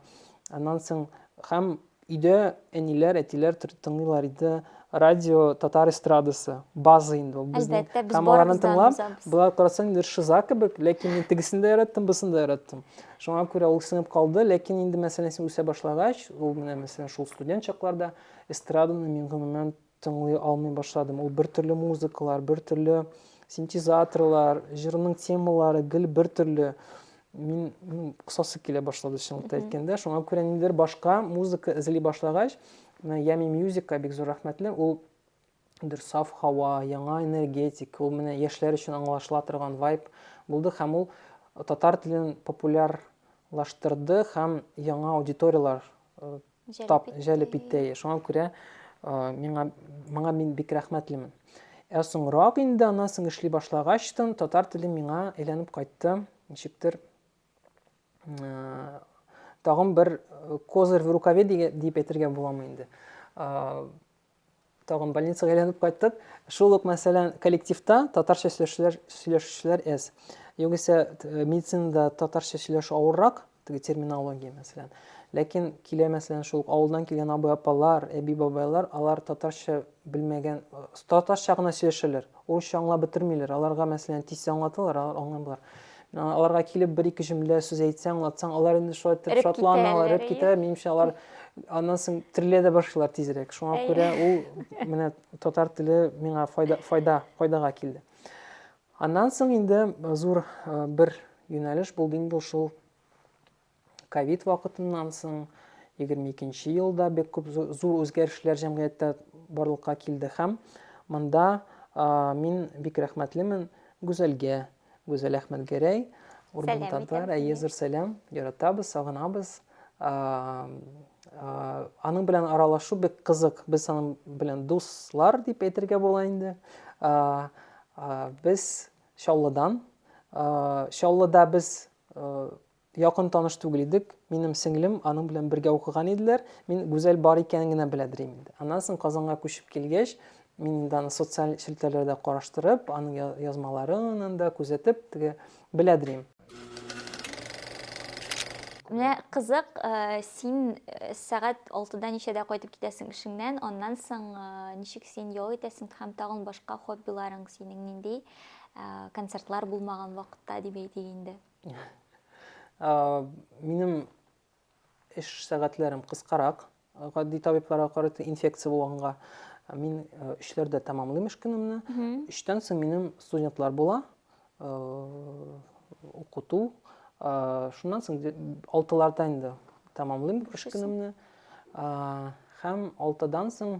аннан соң һәм өйдә әниләр әтиләр тыңлыйлар иде радио татар эстрадасы база инде ул безнең һәм аларны тыңлап болар карасаң инде шиза кебек ләкин мин тегесен дә яраттым бусын да яраттым шуңа күрә ул сеңеп калды ләкин инде мәсәлән син үсә башлагач ул менә мәсәлән шул студент чакларда эстраданы мин гомумән Тыңлый алмый башладым. Ул бертөрле музыкалар, бертөрле синтезаторлар, җырның темалары гел бертөрле. Мин кысасы килә башлады чынлыкта әйткәндә. Шуңа күрә ниндидер башка музыка эзли башлагач, менә Ями Мьюзикка бик зур рәхмәтле. Ул бер саф һава, яңа энергетик, ул менә яшьләр өчен аңлашыла торган вайб булды һәм ул татар телен популярлаштырды һәм яңа аудиторияләр э, тап җәлеп итте. Шуңа күрә миңа моңа мин бик рәхмәтлемен. Ә соңрак инде аннан соң эшли башлагач тын татар теле миңа әйләнеп кайтты. Ничектер тагын бер козырь в рукаве дип әйтергә буламы инде. Тагын больницага әйләнеп кайттык. Шул ук, мәсәлән, коллективта татарча сөйләшүчеләр, сөйләшүчеләр әз. Югыйсә, э, медицинада татарча сөйләшү авыррак, теге терминология, мәсәлән. Ләкин килә, мәсәлән, шул ук авылдан килгән абый-апалар, әби-бабайлар, алар татарча белмәгән, э, татарча гына сөйләшәләр. Урысча аңлап бетермиләр. Аларга, мәсәлән, тиз аңлаталар, алар аңламыйлар. аларга килеп бер ике җөмлә сүз әйтсәң аңлатсаң алар инде шулай итеп шатланалар эреп китә минемчә алар аннан соң терелә дә башлыйлар тизрәк шуңа күрә ул менә татар теле миңа файда файда файдага килде аннан соң инде зур бер юнәлеш булды инде шул ковид вакытыннан соң 22 елда бик күп зур үзгәрешләр җәмгыятьтә барлыкка килде һәм монда мин бик рәхмәтлемен Гүзәлгә, Гүзәл Әхмәтгәрәй, Урман татар, әйе, зур сәлам, яратабыз, сагынабыз. Аның белән аралашу бик кызык, без аның белән дуслар дип әйтергә була инде. Без Чаллыдан, Чаллыда без Якын таныш түгел идек. Минем сеңлем, аның белән бергә укыган иделәр. Мин Гүзәл бар икәнен генә беләдер идем инде. Аннан соң Казанга күчеп килгәч, мин инде аны социаль челтәрләрдә караштырып, аның язмаларын да күзәтеп, теге беләдер идем. Менә кызык, син сәгать алтыда ничәдә кайтып китәсең эшеңнән, аннан соң ничек син ял итәсең һәм тагын башка хоббиларың синең нинди, концертлар булмаган вакытта дип әйтик инде? Минем эш сәгатьләрем кыскарак, гади табибларга карата инфекция булганга мин өчләрдә тәмамлыйм эш көнемне. Өчтән соң минем студентлар була, укыту. Шуннан соң алтыларда инде тәмамлыйм эш көнемне. Һәм алтыдан соң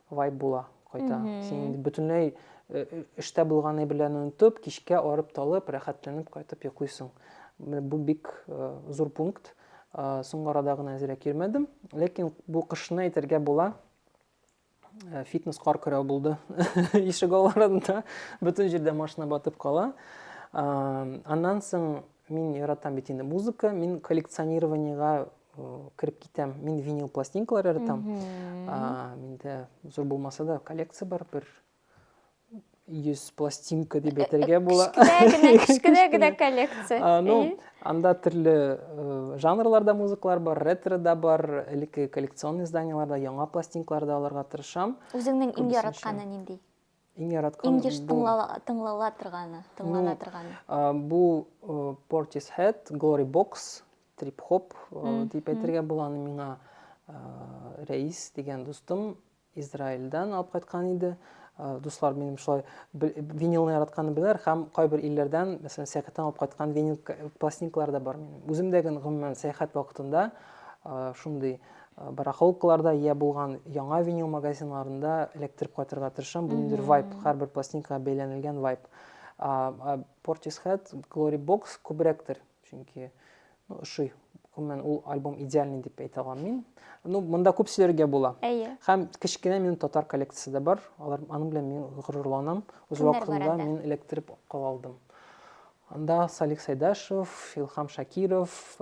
вайб була кайта. Син инде бөтенләй эштә булганы белән онытып, кичкә арып-талып, рәхәтләнеп кайтып йоклыйсың. Бу бик зур пункт. Соңгы арада гына әзрәк йөрмәдем. Ләкин бу кышны әйтергә була. Фитнес кар көрәү булды. Ишек аларында бөтен җирдә машина батып кала. Аннан соң мин яратам бит инде музыка, мин коллекционированиега кереп китәм мин винил пластинкалар яратам миндә зур булмаса да коллекция бар бер йөз пластинка дип әйтергә була кечкенә генә коллекция ну анда төрле жанрларда музыкалар бар ретро да бар элекке коллекционный изданиелар да яңа пластинкалар да алырга тырышам үзеңнең иң яратканы нинди Иң яраткан Иң еш тыңлала торганы, тыңлана торганы. Бу Portis Head, Glory Box, Trip Hop дип әйтергә була аны миңа Рәис дигән дустым Израильдан алып кайткан иде. Э, дуслар минем шулай винилны яратканны беләр һәм кайбер илләрдән мәсәлән сәяхәттән алып кайткан винил пластинкалар да бар минем үзем дә гомумән сәяхәт вакытында э, шундый Барахолкаларда йә булган яңа винил магазиннарында эләктереп кайтырга тырышам. Бу ниндидер вайп, һәрбер пластинкага бәйләнелгән вайп. Portishead, Glory Box күбрәктер, чөнки ну, ошый. Гомумән, ул альбом идеальный дип әйтә алам мин. Ну, монда күп сөйләргә була. Әйе. Һәм кечкенә минем татар коллекциясе дә бар. Алар аның белән мин горурланам. Үз вакытында мин эләктереп кала алдым. Анда Салих Сайдашев, Илхам Шакиров,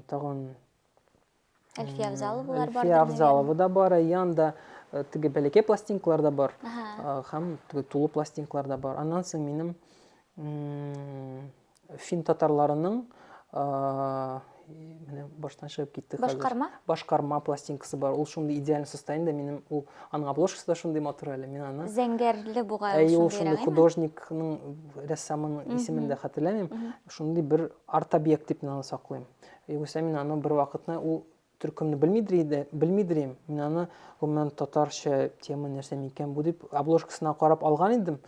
Тагын Әлфия Авзаловалар бар. Әлфия Авзалова да бар, Аян да теге бәләкәй пластинкалар да бар. Һәм теге тулы пластинкалар да бар. Аннан соң минем фин татарларының менә баштан чыгып китте хәзер. Башкарма? Башкарма пластинкасы бар. Ул шундый идеаль состояниедә минем ул аның обложкасы да шундый матур әле. Мин аны Зәңгәрле бугай ул шундый. Әй, ул шундый художникның, рәссамның исемен дә хәтерләмим. Шундый бер Арт-объект дип мин аны саклыйм. Югыйсә мин аны бервакытны ул төркемне белмидер иде, белмидер идем. Мин аны гомумән татарча тема нәрсә микән бу дип обложкасына карап алган идем.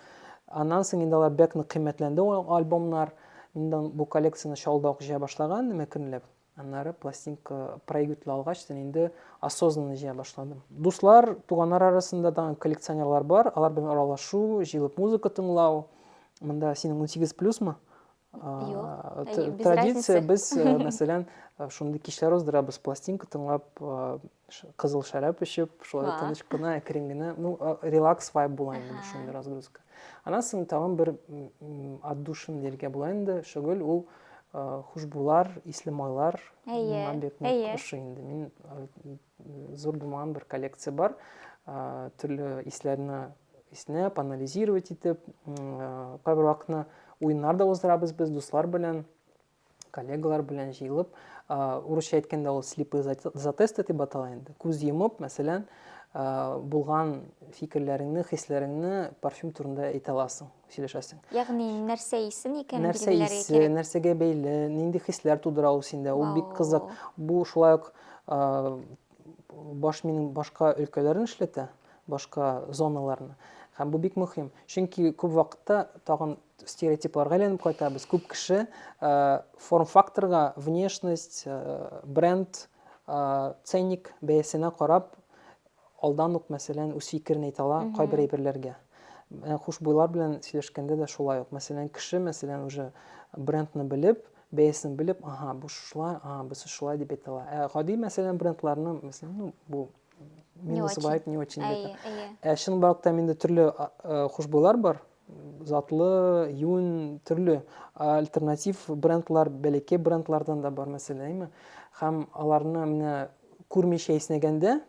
Аннан соң инде алар бәк нык кыйммәтләнде ул альбомнар. Мин дә бу коллекцияне шалда ук җыя башлаган идем әкренләп. Аннары пластинка проигрыватель алгач, син инде осознанно җыя башладым. Дуслар, туганнар арасында тагын коллекционерлар бар, алар белән аралашу, җыелып музыка тыңлау. Монда синең 18 плюсмы? традиция без мәсәлән шундый кичләр уздырабыз пластинка тыңлап кызыл шәраб эчеп шулай тыныч кына әкрен генә ну релакс вайб була инде шундый разгрузка аннан соң тагын бер отдушин дияргә була инде шөгыль ул хушбулар исле майлар миңа бик ошый инде мин Зур булмаган бер коллекция бар. Төрле исләрне иснәп, анализировать итеп, кайбер вакытны уеннар да уздырабыз без дуслар белән, коллегалар белән җыелып. Урысча әйткәндә ул слепые затесты дип атала инде. Күз йомып, мәсәлән, булган фикерләреңне, хисләреңне парфюм турында әйтә аласың. сөйләшәсең. Ягъни нәрсә исе икән нәрсә исе, нәрсәгә бәйле, нинди хисләр тудыра ул синдә, ул бик кызык. Бу шулай ук баш минем башка өлкәләрен эшләтә, башка зоналарны. Һәм бу бик мөһим. Чөнки күп вакытта тагын стереотипларга әйләнеп кайтабыз. Күп кеше форм-факторга, внешность, бренд, ценник бәясенә карап Алдан ук, мәсәлән, үз фикерен әйтә ала кайбер әйберләргә. Ә хушбуйлар белән сөйләшкәндә дә шулай ук. Мәсәлән, кеше, мәсәлән, уже брендны белеп, бәясен белеп, ага, бу шулай, ага, бусы шулай дип әйтә ала. Ә гади, мәсәлән, брендларны, мәсәлән, ну, бу минус вайт, не очень. Ә чынбарлыкта инде төрле хушбуйлар бар, затлы, юн, төрле альтернатив брендлар, бәләкәй брендлардан да бар мәсәләме. Һәм аларны менә күрмичә иснәгәндә,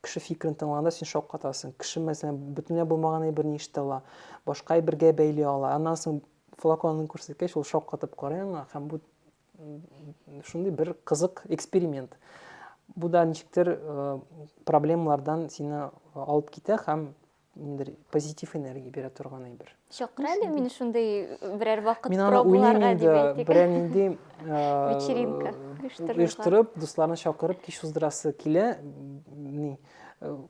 кеше фикерен тыңлаганда син шаккатасың. Кеше, мәсәлән, бөтенләй булмаган әйберне ишетә ала, башка әйбергә бәйли ала. Аннан соң флаконын күрсәткәч, ул шаккатып карый аңа һәм бу шундый бер кызык эксперимент. Бу да ничектер проблемалардан сине алып китә һәм ниндидер позитив энергия бирә торган әйбер чакыра әле мине шундый берәр вакыт мин аны уйлыйм инде берәр нинди вечеринка оештырып дусларны чакырып кич уздырасы килә ни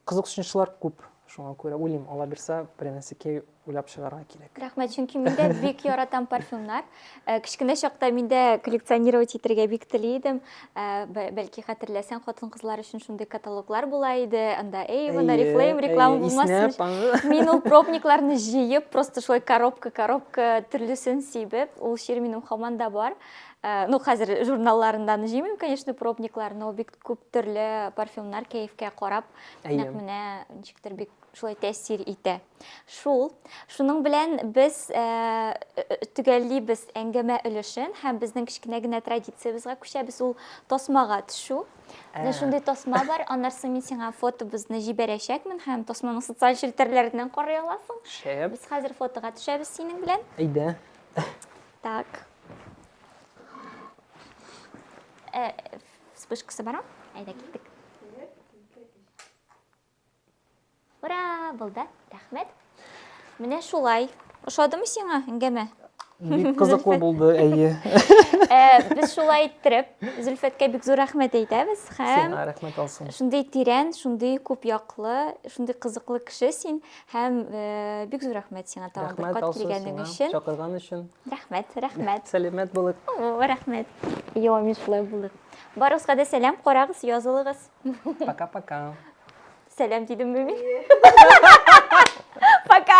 кызыксынучылар күп шуңа күрә уйлыйм алла бирса берәр нәрсәкәй уйлап чыгарга кирәк рәхмәт чөнки мин дә бик яратам парфюмнар Э, кечкенә чакта мин дә коллекционировать итәргә бик тели идем э, бәлки хәтерләсәң хатын кызлар өчен шундый каталоглар була иде анда эйвен арифлейм реклама булмасын мин ул пробникларны җыеп просто шулай коробка коробка төрлесен сибеп ул чир минем хаман да бар э, ну хәзер журналларыннан җыймыйм конечно пробниклар но бик күп төрле парфюмнар кәефкә карап нәкъ менә ничектер бик шулай тәэсир итә Шул. Шуның белән без э, э, төгәллибез әңгәмә өлешен һәм безнең кечкенә генә традициябезгә күчәбез. Ул тасмага төшү. Ә. Шундый тасма бар, аннарсы мин сиңа фотобызны җибәрәчәкмен һәм тасманы социаль челтәрләрдән карый аласың. Шәп. Без хәзер фотога төшәбез синең белән. Әйдә. Так. Э, вспышкасы бар, а? Әйдә киттек. Ура, булды. Рәхмәт. Менә шулай. Ошадымы сиңа әңгәмә? Бик кызыклы булды, әйе. Э, без шулай иттереп, Зөлфәткә бик зур рәхмәт әйтәбез һәм Сиңа рәхмәт алсын. Шундый тирән, шундый күп яклы, шундый кызыклы кеше син һәм э, бик зур рәхмәт сиңа тагын бер кат килгәнең өчен. Чакырган өчен. Рәхмәт, рәхмәт. Сәләмәт булык. Рәхмәт. Йо, мин шулай булдык. Барыгызга да сәлам, карагыз, язылыгыз. Пока-пока. Сәлам дидем мени. Пока.